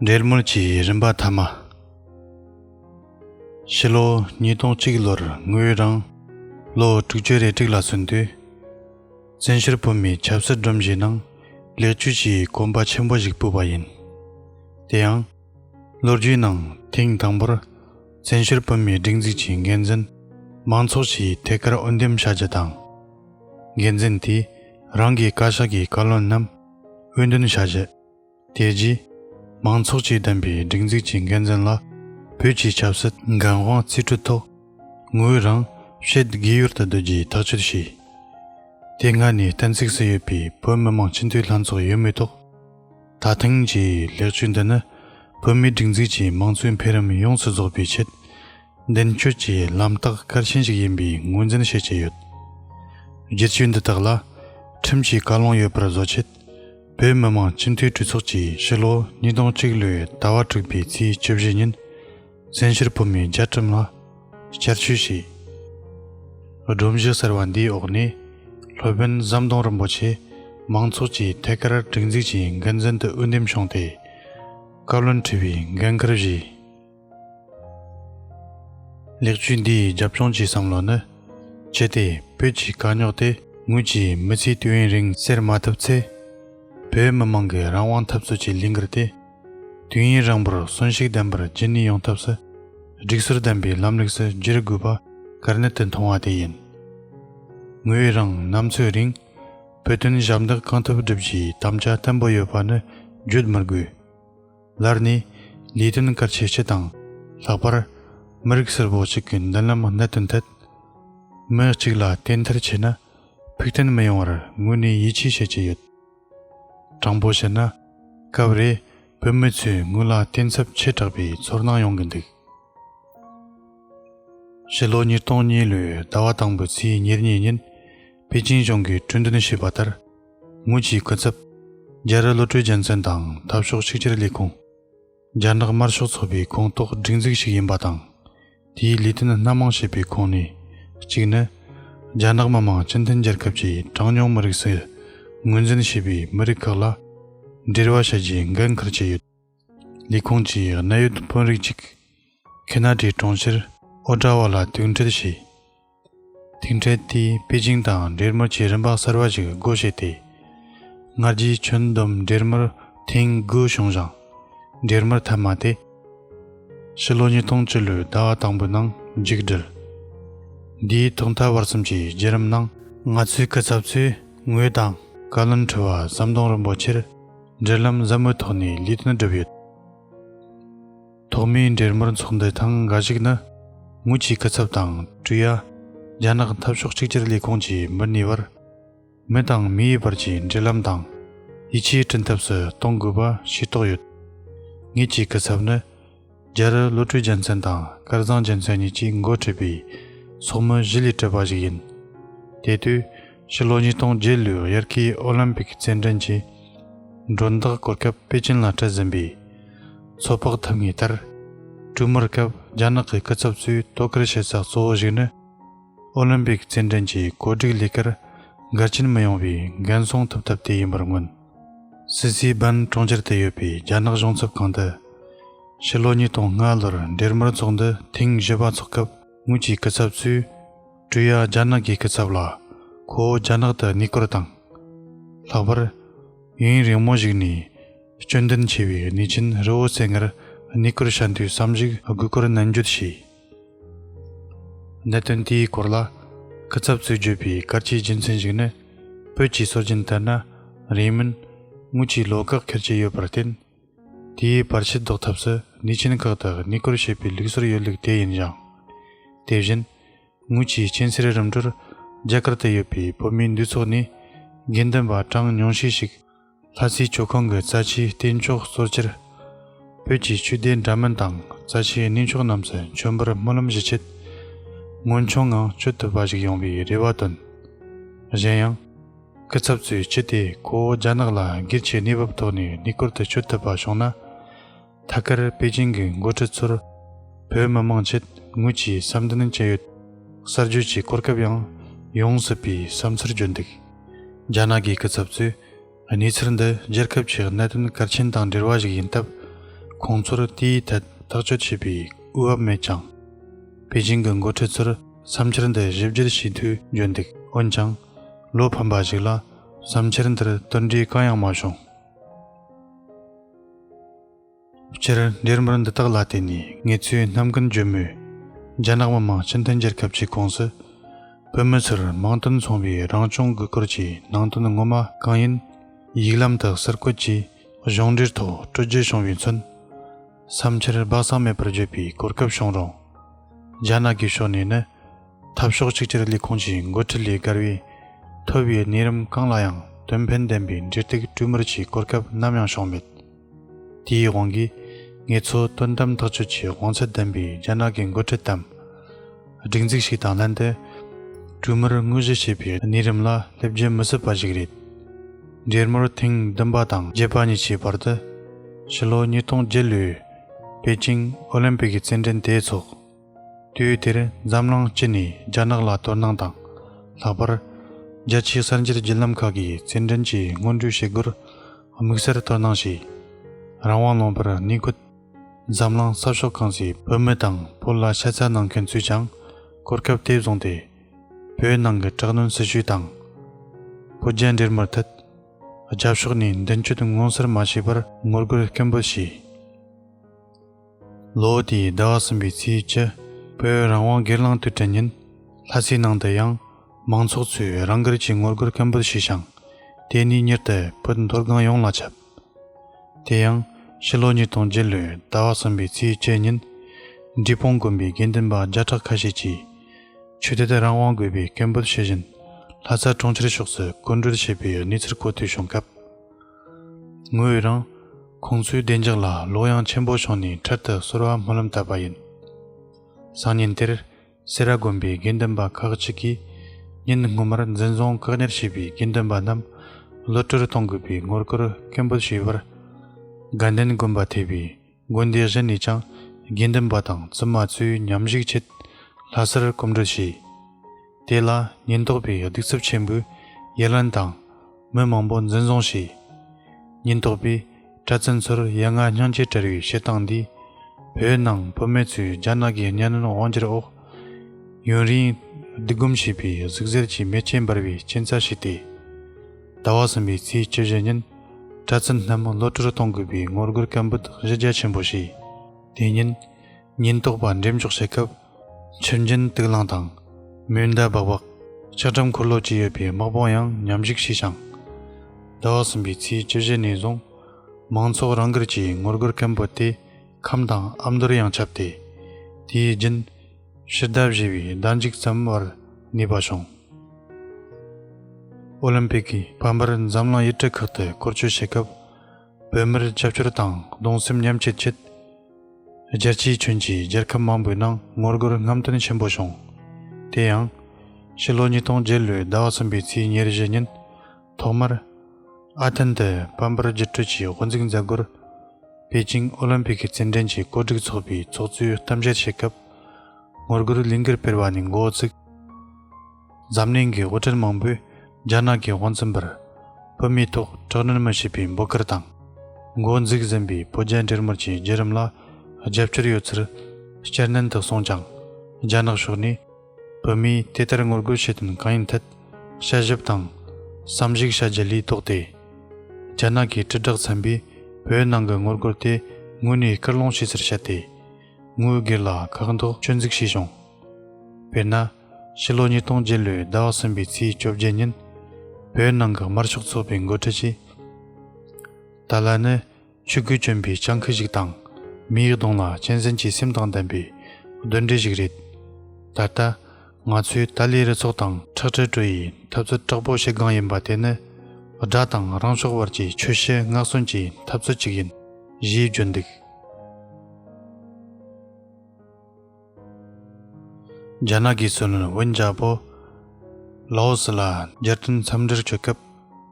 འབྲེལ་མོལ་གྱི་རིམ་པ་ཐ་མ། ཕྱི་ལོ་ཉིས་སྟོང་གཅིག་ལོར་ངོས་རང་ལོ་དྲུག་ཅུ་རེ་དྲུག་ལ་སོན་དུས། བཙན་ཤུར་བོད་མིའི་ཆབ་སྲིད་སྒྲོམ་གཞིའི་ནང་ལས་བྱོལ་གྱི་གོམ་པ་ཆེན་པོ་ཞིག་སྤོས་པ་ཡིན། དེ་ཡང། ལོ་རྒྱུས་ནང་ཐེངས་དང་པོར་བཙན་ཤུར་བོད་མིའི་སྒྲིག་འཛུགས་ཀྱི་འགན་འཛིན་མང་ཚོགས་ཀྱིས་ཐད་ཀར་འོས་འདེམས་བྱ་རྒྱུ་དང། འགན་འཛིན་དེས་རང་གི་བཀའ་ཤག་གི་བཀའ་བློན་རྣམས་དབུས་འདོན་བྱ་ཆེད། དེ་རྗེས། མང་ཚོགས་ཀྱིས་བདམས་པའི་སྒྲིག་འཛུགས་ཀྱི་འགན་འཛིན་ལ་བོད་ཀྱི་ཆབ་སྲིད་འགན་དབང་རྩིས་སྤྲོད་ཐོག་ངོས་རང་ཕྱེད་དགེ་ཡུལ་དུ་སྡོད་རྒྱུའི་ཐག་གཅོད་བྱས། དེ་སྔ་ནས་གཏན་ཚིགས་སུ་ཡོད་པའི་བོད་མི་མང་སྤྱི་འཐུས་ལྷན་ཚོགས་ཡོད་མེད་ཐོག་ད་ཐེངས་ཀྱི་ལེགས་བཅོས་འདི་ནི་བོད་མིའི་སྒྲིག་འཛུགས་ཀྱི་མང་གཙོའི་འཕེལ་རིམ་ཡོངས་སུ་རྫོགས་པའི་ཆེད་མདུན་སྐྱོད་ཀྱི་ལམ་རྟགས་གལ་ཆེན་ཞིག་ཡིན་པའི་ངོས་འཛིན་བྱེད་ཀྱི་ཡོད། བསྒྱུར་བཅོས་འདི་དག་ལ་ཁྲིམས་ཀྱི་བཀའ་ལུང་ཡོད་པར་བཟོ་ཆེད། བོད་མི་མང་སྤྱི་འཐུས་གྲོས་ཚོགས་ཀྱིས་ཕྱི་ལོ་ཉིས་སྟོང་གཅིག་ལོའི་ཟླ་བ་དྲུག་པའི་ཚེས་བཅུ་བཞི་ཉིན་བཙན་བྱོལ་བོད་མིའི་རྒྱལ་ཁྲིམས་ལ་བསྐྱར་བཅོས་བྱས། སྒྲོམ་གཞི་གསར་བ་འདིའི་འོག་ནས་སློབ་དཔོན་ཟམ་གདོང་རིན་པོ་ཆེ་མང་ཚོགས་ཀྱི་ཐད་ཀར་སྒྲིག་འཛུགས་ཀྱི་འགན་འཛིན་དུ་འོས་འདེམས་བྱུང་སྟེ། བཀའ་བློན་ཁྲི་པའི་འགན་འཁུར་བཞེས། ལེགས་བཅོས་འདི་ཡི་རྒྱབ་ལྗོངས་ཀྱི་བསམ་བློ་ནི། ཇི་སྟེ་བོད་ཀྱི་དཀའ་རྙོག་དེ་ངོས་ཀྱིས་མི་ཚེའི་དུས་ཡུན་རིང་སེལ་མ་ཐུབ་ཚེ། བོད་མི་མང་གི་རང་དབང་འཐབ་རྩོད་ཀྱི་ལིང་གར་དེ། དུས་ཡུན་རིང་པོར་གསོན་བཤིག་ལྡན་པར་རྗེས་སྣུན་ཡོང་ཐབས་སུ། སྒྲིག་སྲོལ་ལྡན་པའི་ལམ་ལུགས་སུ་བསྒྱུར་དགོས་པ་གར་གནད་དུ་མཐོང་བ་དེ་ཡིན། ངོས་རང་ནམ་འཚོའི་རིང་བོད་དོན་ཞབས་འདེགས་གང་ཐུབ་བསྒྲུབ་རྒྱུའི་དམ་བཅའ་བརྟན་པོ་ཡོད་པ་ནི་བརྗོད་མི་དགོས། ལར་ནས་ལས་དོན་དཀར་ཆེ་ཆེ་དང་ལྷག་པར་མི་རིགས་སིལ་བོ་ཞིག་གི་མདུན་ལམ་གནད་དུ་འཐད། མི་གཅིག་ལ་བསྟེན་མཐར་ཆེ་ན་ཕུགས་བརྟན་མི་ཡོང་བར་ངོས་ནས་ཡིད་ཆེས་བྱེད་ཀྱི་ཡོད། དྲང་པོ་བཤད་ན་སྐབས་རེ་བོད་མི་ཚོས་དངུལ་ལ་བརྟེན་ཚབས་ཆེ་དྲགས་པའི་ཚོར་སྣང་ཡོང་གི་འདུག། ཕྱི་ལོ་ཉིས་སྟོང་གཉིས་ལོའི་ཟླ་བ་དང་པོའི་ཚེས་ཉེར་གཉིས་ཉིན་པེ་ཅིང་གཞུང་གིས་གྲོས་འདོན་བྱས་པ་ལྟར། དངུལ་གྱི་སྐུ་ཚབ། རྒྱལ་རི་བློ་གྲོས་རྒྱལ་མཚན་དང་འཐབ་ཕྱོགས་གཅིག་གྱུར་ལས་ཁུངས། རྒྱ་ནག་དམར་ཤོག་ཚོགས་པའི་ཁོངས་གཏོགས་སྒྲིག་འཛུགས་ཤིག་ཡིན་པ་དང། དེའི་ལས་དོན་སྣ་མང་བྱེད་པའི་ཁོངས་ནས་གཅིག་ནི། རྒྱ་ནག་མི་དམངས་སྤྱི་མཐུན་རྒྱལ་ཁབ་ཀྱི་གྲངས་ཉུང་མི་རིགས་སུ་ངོས་འཛིན་བྱེད་པའི་མི་རིགས་ཁག་ལ་འབྲེལ་བ་བྱ་རྒྱུའི་འགན་འཁུར་གྱི་ཡོད། ལས་ཁུངས་ཀྱིས་གནད་ཡོད་དཔོན་རིགས་གཅིག་གྷི་ན་ཀྲིའི་གྲོང་ཁྱེར་ཨོ་ཀྲ་བྷ་ལ་ཐུག་འཕྲད་བྱས། ཐུག་འཕྲད་དེས་པེ་ཅིང་དང་འབྲེལ་མོལ་གྱི་རིམ་པ་གསར་པ་ཞིག་སྒོ་ཕྱེ་སྟེ། སྔར་རྒྱའི་ཁྱོན་བསྡོམས་འབྲེལ་མོལ་ཐེངས་དགུ་བྱུང་ཞིང། འབྲེལ་མོལ་ཐ་མ་དེ། ཕྱི་ལོ་ཉིས་སྟོང་བཅུ་ལོའི་ཟླ་བ་དང་པོའི་ནང་མཇུག་བསྒྲིལ། འདིའི་ཐོག་མཐའ་བར་གསུམ་གྱི་བརྒྱུད་རིམ་ནང། ང་ཚོའི་སྐུ་ཚབ་ཚོས་ངོས་དང་བཀའ་བློན་ཁྲི་བ་ཟམ་གདོང་རིན་པོ་ཆེར། འབྲེལ་ལམ་མཛའ་མོའི་ཐོག་ནས་ལུས་དོན་བསྒྲུབས་ཡོད། ཐོག་མའི་འབྲེལ་མོལ་ཚོགས་འདུའི་ཐང་ག་ཞིག་ནི། ངུ་ཆིའི་སྐུ་ཚབ་དང་ཀྲུའུ་ཡ། རྒྱ་ནག་འཐབ་ཕྱོགས་གཅིག་གྱུར་ལས་ཁུངས་ཀྱི་མི་གཉིས་བར། མི་དང་མིའི་བར་གྱི་འབྲེལ་ལམ་དང། ཡིད་ཆེས་བསྐྲུན་ཐབས་སུ་གཏོང་དགོས་པ་ཤེས་རྟོགས་ཡོད། ངེད་ཀྱི་སྐུ་ཚབ་ནི། རྒྱལ་རི་བློ་གྲོས་རྒྱལ་མཚན་དང་སྐལ་བཟང་རྒྱལ་མཚན་གཉིས་ཀྱིས་མགོ་ཁྲིད་པའི་ཚོགས་མི་བཞི་ལས་གྲུབ་པ་ཞིག་ཡིན། དེ་དུས་ཕྱི་ལོ་ཉིས་སྟོང་བརྒྱད་ལོའི་དབྱར་ཁའི་ཨོ་ལིམ་པིག་རྩེད་འགྲན་གྱི་མགྲོན་བདག་སྐོར་སྐབས་པེ་ཅིན་ལ་འཁྲིད་ཟིན་པའི་ཚོད་དཔག་ཐུབ་ངེས་ལྟར། དྲུག་མར་སྐབས་རྒྱ་ནག་གི་སྐུ་ཚབ་ཚོས་དོ་ཁུར་བྱེད་ས་གཙོ་བོ་ཞིག་ནི་ཨོ་ལིམ་པིག་རྩེད་འགྲན་གྱི་གོ་སྒྲིག་ལས་ཀར་འགལ་རྐྱེན་མི་ཡོང་བའི་འགན་སྲུང་ཐུབ་ཐབས་དེ་ཡིན་པར་མངོན། སི་ཚིའི་འབན་གྲོང་ཁྱེར་དུ་ཡོད་པའི་རྒྱ་ནག་གཞུང་ཚབ་ཁང་དུ། ཕྱི་ལོ་ཉིས་སྟོང་ལྔ་ལོར་འབྲེལ་མོལ་ཚོགས་འདུ་ཐེངས་བཞི་པ་འཚོགས་སྐབས་ངོས་ཀྱི་སྐུ་ཚབ་ཚོས། ཀྲུའུ་ཡཱ་རྒྱ་ནག་གི་སྐུ་ཚབ་ལ་ཁོ་བོ་རྒྱ་ནག་ཏུ་གནས་སྐོར་དང། ལྷག་པར། ཡུན་རིང་མོ་ཞིག་ནས་སྐྱོན་ལྡན་ཆེ་བའི་གནས་ཆེན་རི་བོ་རྩེ་ལྔར་གནས་སྐོར་བྱ་འདུའི་བསམ་གཞིག་དགོས་སྐོར་ནན་བརྗོད་བྱས། གནད་དོན་དེའི་སྐོར་ལ་སྐུ་ཚབ་ཚོས་བརྗོད་པའི་སྐར་ཆའི་རྒྱུ་མཚན་ཞིག་ནི། བོད་ཀྱི་སྲོལ་རྒྱུན་ལྟར་ན་རིང་མིན་དངུལ་གྱི་ལོ་ཁག་ཁེར་གྱི་ཡོད་པར་བརྟེན། དེའི་བར་ཕྱི་བཟློག་ཐབས་སུ་ནུས་ཆེན་ཁག་དག་གནས་སྐོར་བྱེད་པའི་ལུགས་སྲོལ་ཡོད་ལུགས་དེ་ཡིན་ཡང། དེ་བཞིན་དངུལ་གྱི་སྤྱན་སེར་རིམ་གྲོར་རྒྱ་གར་དུ་ཡོད་པའི་བོད་མིའི་འདུས་ཚོགས་ནས་དགེ་འདུན་པ་གྲངས་ཉུང་ཤས་ཤིག། ལྷ་རྩིས་ཆུ་ཁང་གི་རྩ་ཆེའི་སྟེང་ཕྱོགས་གཙོར་གྱུར། བོད་ཀྱི་ཆོས་སྡེ་འདྲ་མིན་དང་རྩ་ཆེའི་གནས་མཆོག་རྣམས་སུ་མཆོད་འབུལ་སྨོན་ལམ་བཞི་ཆེད་སྔོན་བྱོན་ངང་མཆོད་ཐུབ་པ་ཞིག་ཡོང་བའི་རེ་བ་བཏོན། གཞན་ཡང། སྐུ་ཚབ་ཚོས་ཅི་སྟེ་ཁོ་བོ་རྒྱ་ནག་ལ་སྒེར་གྱི་གནས་བབ་ཐོག་ནས་གནས་སྐོར་དུ་མཆོད་ཐུབ་པ་བྱུང་ན། ཐད་ཀར་པེ་ཅིང་གི་མགོ་ཁྲིད་ཚོར་བོད་མི་མང་ཆེད་ངོས་ཀྱིས་བསམ་འདུན་བཅས་ཡོད། གསར་འགྱུར་གྱི་གོ་སྐབས་ཡང་ཡོང་སྲིད་པའི་བསམ་ཚུལ་བརྗོད་འདུག་རྒྱ་ནག་གི་སྐུ་ཚབ་ཚོས་གནས་ཚུལ་འདི་རྒྱལ་ཁབ་ཀྱི་གནད་དོན་གལ་ཆེན་དང་འབྲེལ་བ་ཞིག་ཡིན་སྟབས་ཁོང་ཚོར་དེའི་ཐད་ཐག་གཅོད་བྱེད་པའི་དབུས་བབ་མེད་ཀྱང། པེ་ཅིང་གི་མགོ་ཁྲིད་ཚོར་བསམ་འཆར་འདི་ཞིབ་བརྒྱུད་བྱས་འཐུས་བརྗོད་འདུག་འོན་ཀྱང། བློ་ཕམ་པ་ཞིག་ལ་བསམ་འཆར་འདིར་དོལ་འདྲི་གང་ཡང་མ་བྱུང། སྤྱིར་འདིར་མུར་འདི་དག་ལ་བརྟེན་ནས་ངེད་ཚོས་ནམ་ཀུན་བརྗོད་མོད། རྒྱ་ནག་མི་དམངས་སྤྱི་མཐུན་རྒྱལ་ཁབ་ཀྱི་ཁོངས་སུ། བོད་མི་ཚོར་མིང་དོན་མཚུངས་པའི་རང་སྐྱོང་དགོས་སྐོར་གྱི་ནང་དོན་ངོ་མ་གང་ཡིན། ཡིག་ལམ་དུ་ཟུར་བཀོད་ཀྱིས་གཞུང་འབྲེལ་ཐོག་སྤྲོད་རྒྱུ་བྱུང་བའི་ཚུན། བསམ་འཆར་སྦག་གསང་མེད་པར་བརྗོད་པའི་གོ་སྐབས་བྱུང་རུང། རྒྱ་ནག་གི་ཕྱོགས་ནས་ནི། འཐབ་ཕྱོགས་གཅིག་གྱུར་ལས་ཁུངས་ཀྱི་འགོ་ཁྲིད་ལས་བརྒལ་བའི་ཐོས་པའི་གནས་རིམ་གང་ལ་ཡང་དོན་ཕན་ལྡན་པའི་འབྲེལ་གཏུག་གྲོས་མོལ་གྱི་གོ་སྐབས་ནམ་ཡང་བྱུང་མེད། དེའི་དབང་གིས་ངེད་ཚོ་དོན་དམ་ཐག་གཅོད་ཀྱི་དབང་ཚད་ལྡན་པའི་རྒྱ་ནག་གི་འགོ་ཁྲིད་དམ་སྒྲིག་འཛུགས་ཤིག་དང་ལྷན་དུ་གྲོས་མོལ་དངོས་གཞི་བྱེད་པའི་གནས་རིམ་ལ་སླེབས་རྒྱུ་མི་སྲིད་པ་ཞིག་རེད། འབྲེལ་མོལ་ཐེངས་བདུན་པ་དང་བརྒྱད་པ་གཉིས་ཀྱི་བར་དུ་ཕྱི་ལོ་ཉིས་སྟོང་བརྒྱད་ལོའི་པེ་ཅིང་ཨོ་ལིམ་པིག་གི་རྩེད་འགྲན་དེའི་ཚོགས་དུས་དེར་འཛམ་གླིང་སྤྱི་ནས་རྒྱ་ནག་ལ་དོ་སྣང་དང། ལྷག་པར་རྒྱལ་སྤྱིའི་གསར་འགྱུར་བརྒྱུད་ལམ་ཁག་གིས་རྩེད་འགྲན་གྱི་སྔོན་འགྲོའི་བྱེད་སྒོར་དམིགས་བསལ་དོ་སྣང་བྱས། རང་དབང་ལོངས་པར་གནས་ཁུལ། འཛམ་གླིང་ས་ཕྱོགས་གང་སའི་བོད་མི་དང་བོད་ལ་ཤ་ཚ་གནང་མཁན་ཚོས་ཀྱང་གོ་སྐབས་དེ་བཟུང་སྟེ། བོད་ནང་གི་དྲག་གནོན་སྲིད་བྱུས་དང། བོད་རྒྱ་འབྲེལ་མར་མཐུད། རྒྱབ་ཕྱོགས་ནས་མདུན་སྐྱོད་མངོན་གསལ་མ་བྱས་པར་ངོ་རྒོལ་སྐད་འབོད་བྱས། ལོ་དེའི་ཟླ་བ་གསུམ་པའི་ཚེས་བཅུ་བོད་རང་དབང་སྒེར་ལངས་དུས་དྲན་ཉིན། ལྷ་སའི་ནང་དུ་ཡང་མང་ཚོགས་ཚོས་རང་དགར་གྱིས་ངོ་རྒོལ་སྐད་འབོད་བྱས་ཤིང། དེ་ནས་མྱུར་དུ་བོད་མཐོ་སྒང་ཡོངས་ལ་ཁྱབ། དེ་ཡང་ཕྱི་ལོ་ཉིས་སྟོང་བརྒྱད་ལོའི་ཟླ་བ་གསུམ་པའི་ཚེས་བཅུ་ཉིན། འབྲི་སྤུངས་དགོན་པའི་དགེ་འདུན་པ་བརྒྱ་ཕྲག་ཁ་ཤས་ཀྱིས། ཆོས་དད་དུ་རང་དབང་དགོས་པའི་སྐད་འབོད་བྱེད་བཞིན། ལྷ་ས་གྲོང་ཁྱེར་ཕྱོགས་སུ་བཀོད་འགྲོལ་བྱས་པའི་གནས་ཚུལ་གོ་ཐོས་བྱུང་སྐབས། ངོས་རང་ཁོང་ཚོའི་བདེ་འཇགས་ལ་བློ་གཡང་ཆེན་པོ་བྱུང་ནས་འཕྲལ་དུ་གསོལ་བ་སྨོན་ལམ་བཏབ་པ་ཡིན། སང་ཉིན་དེར་སེ་ར་དགོན་པའི་དགེ་འདུན་པ་ཁག་ཅིག་གིས་ཉིན་སྔོན་མར་འཛིན་བཟུང་བཀག་ཉར་བྱས་པའི་དགེ་འདུན་པ་རྣམས་གློད་བཀྲོལ་གཏོང་དགོས་པའི་ངོ་རྒོལ་སྐད་འབོད་བྱས་པར་དགའ་ལྡན་དགོན་པ་ཐེ་བའི་དགོན་སྡེ་གཞན་ནས་ཀྱང་དགེ་འདུན་པ་དང་བཙུན་མ་ཚོའི་ཉམས་གཞིགས་ཆེད་ལྷ་སར་སྐོམ་འགྲུལ་བྱས། དེ་ལ་ཉེན་རྟོག་པས་གདུག་རྩུབ་ཆེན་པོས་ཡ་ལན་དང། མི་མང་པོ་འཛིན་བཟུང་བྱས། ཉེན་རྟོག་པས་གྲྭ་བཙུན་ཚོར་ཡ་ང་སྙིང་རྗེ་བྲལ་བའི་བྱེད་སྟངས་འདིས། བོད་ནང་བུད་མེད་ཚོའི་རྒྱ་ནག་གི་གཉའ་གནོན་དབང་སྒྱུར་འོག་ཡུན་རིང་བསྡུ་སྒོམ་བྱས་པའི་ཟུག་གཟེར་གྱི་མེ་ལྕེ་འབར་བའི་རྐྱེན་རྩ་ཞིག་སྟེ། ཟླ་བ་གསུམ་པའི་ཚེས་བཅུ་བཞི་ཉིན་གྲྭ་བཙུན་སྣ་མང་བློ་གྲོས་གཏོང་དགོས་པའི་ངོ་རྒོལ་སྐད་འབོད་གཞི་རྒྱ་ཆེན་པོ་བྱས། དེ་ཉིན་ཉེན་རྟོག་པ་འགྲེམས་འཇོག་བྱེད་སྐབས། ཆུ་འབྱིན་དུག་རླངས་དང། མེ་མདའ་སྦག་སྦག། ལྕགས་འགྲམ་འཁོར་ལོ་བཅས་ཡོད་པའི་དམག་དཔུང་ཡང་ཉམས་ཞིག་བྱས་ཤིང། ཟླ་བ་གསུམ་པའི་ཚེས་བཅུ་བཞི་ནས་བཟུང་མང་ཚོགས་རང་འགུལ་གྱིས་ངོ་རྒོལ་སྐད་འབོད་དེ་ཁམས་དང་ཨ་མདོར་ཡང་ཁྱབ་སྟེ། དེའི་རྒྱུན། ཕྱི་ཟླ་བཞི་བའི་ཟླ་འཇིག་ཙམ་བར་ནུས་པ་བྱུང། ཨོ་ལིམ་པིག་གི་དཔལ་འབར་འཛམ་གླིང་དབྱེ་འབྲི་ཁག་ཏུ་བསྐོར་བསྐྱོད་བྱེད་སྐབས་བོད་མིར་རྒྱབ་སྐྱོར་དང་གདུང་སེམས་མཉམ་སྐྱེད་ཆེད། རྒྱལ་སྤྱིའི་ཁྱོན་གྱི་རྒྱལ་ཁབ་མང་པོའི་ནང་ངོ་རྒོལ་རྔམ་སྟོན་ཆེན་པོ་བྱུང། དེ་ཡང། ཕྱི་ལོ་ཉིས་སྟོང་བརྒྱད་ལོའི་ཟླ་བ་གསུམ་པའི་ཚེས་ཉེར་བཞི་ཉིན། ཐོག་མར། ཨ་ཐན་དུ་དཔལ་འབར་རྒྱུགས་སྤྲོད་ཀྱི་དབུ་འཛུགས་མཛད་སྒོར། པེ་ཅིང་ཨོ་ལིམ་པིག་གི་རྩེད་འགྲན་གྱི་གོ་སྒྲིག་ཚོགས་པའི་ཚོགས་གཙོས་གཏམ་བཤད་བྱེད་སྐབས། ངོ་རྒོལ་གླིང་གེར་སྤེལ་བ་ནས་མགོ་བཙུགས། འཛམ་གླིང་གི་དབུ་ཁྲལ་མང་པོས་རྒྱ་ནག་གི་དབང་བཙན་པར། བོད་མིའི་ཐོག་དྲག་གནོན་མི་བྱེད་པའི་འབོད་སྐུལ་དང། མགོ་འཛུགས་ཟིན་པའི་བོད་རྒྱ་འབྲེལ་མོལ་གྱི་བརྒྱུད་རིམ་ལ་རྒྱབ་སྐྱོར་ཡོད་ཚུལ་སྐྱར་ནན་དུ་གསུངས་ཀྱང། རྒྱ་ནག་ཕྱོགས་ནས། བོད་མིས་དེ་ལྟར་ངོ་རྒོལ་བྱེད་དོན་གང་ཡིན་ཐད་དཔྱད་ཞིབ་དང་བསམ་གཞིགས་བྱ་རྒྱུ་ལས་ལྡོག་སྟེ། རྒྱ་ནག་གི་དྲིལ་བསྒྲགས་ཚན་པས་བོད་ནང་གི་ངོ་རྒོལ་དེ་དངོས་གནས་སྐུལ་སློང་བྱས་ཚུལ་བཤད་དེ། ངོས་སྒེར་ལ་ཁག་འདོགས་སྐྱོན་འཛུགས་བྱས་བྱུང། དཔེར་ན། ཕྱི་ལོ་ཉིས་སྟོང་བརྒྱད་ལོའི་ཟླ་བ་གསུམ་པའི་ཚེས་བཅོ་བརྒྱད་ཉིན། བོད་ནང་གི་དམར་ཤོག་ཚོགས་པའི་མགོ་ཁྲིད་ཀྱིས། ཏཱ་ལ་ནི་ཆོས་སྐུ་སྤྱོན་པའི་སྤྱང་ཀི་ཞིག་དང། མི་ཡི་གདོང་ལ་གཅན་གཟན་གྱི་སེམས་དང་ལྡན་པའི་གདོན་འདྲེ་ཞིག་རེད། ད་ལྟ། ང་ཚོས་ཏཱ་ལའི་རུ་ཚོགས་དང་ཁྲག་དྲི་བྲོ་ཡི་འཐབ་རྩོད་དྲག་པོ་བྱེད་སྒང་ཡིན་པ་དེ་ནི། དགྲ་དང་རང་ཕྱོགས་བར་གྱི་ཆོས་ཞི་སྔགས་བསྲུན་གྱི་འཐབ་རྩོད་ཅིག་ཡིན། ཞེས་བརྗོད་འདུག། རྒྱ་ནག་གིས་སུན་ཝིན་རྒྱལ་པོ་ལའོ་སི་ལ་རྒྱལ་སྟོན་འཚམས་འདྲིར་བསྐྱོད་སྐབས་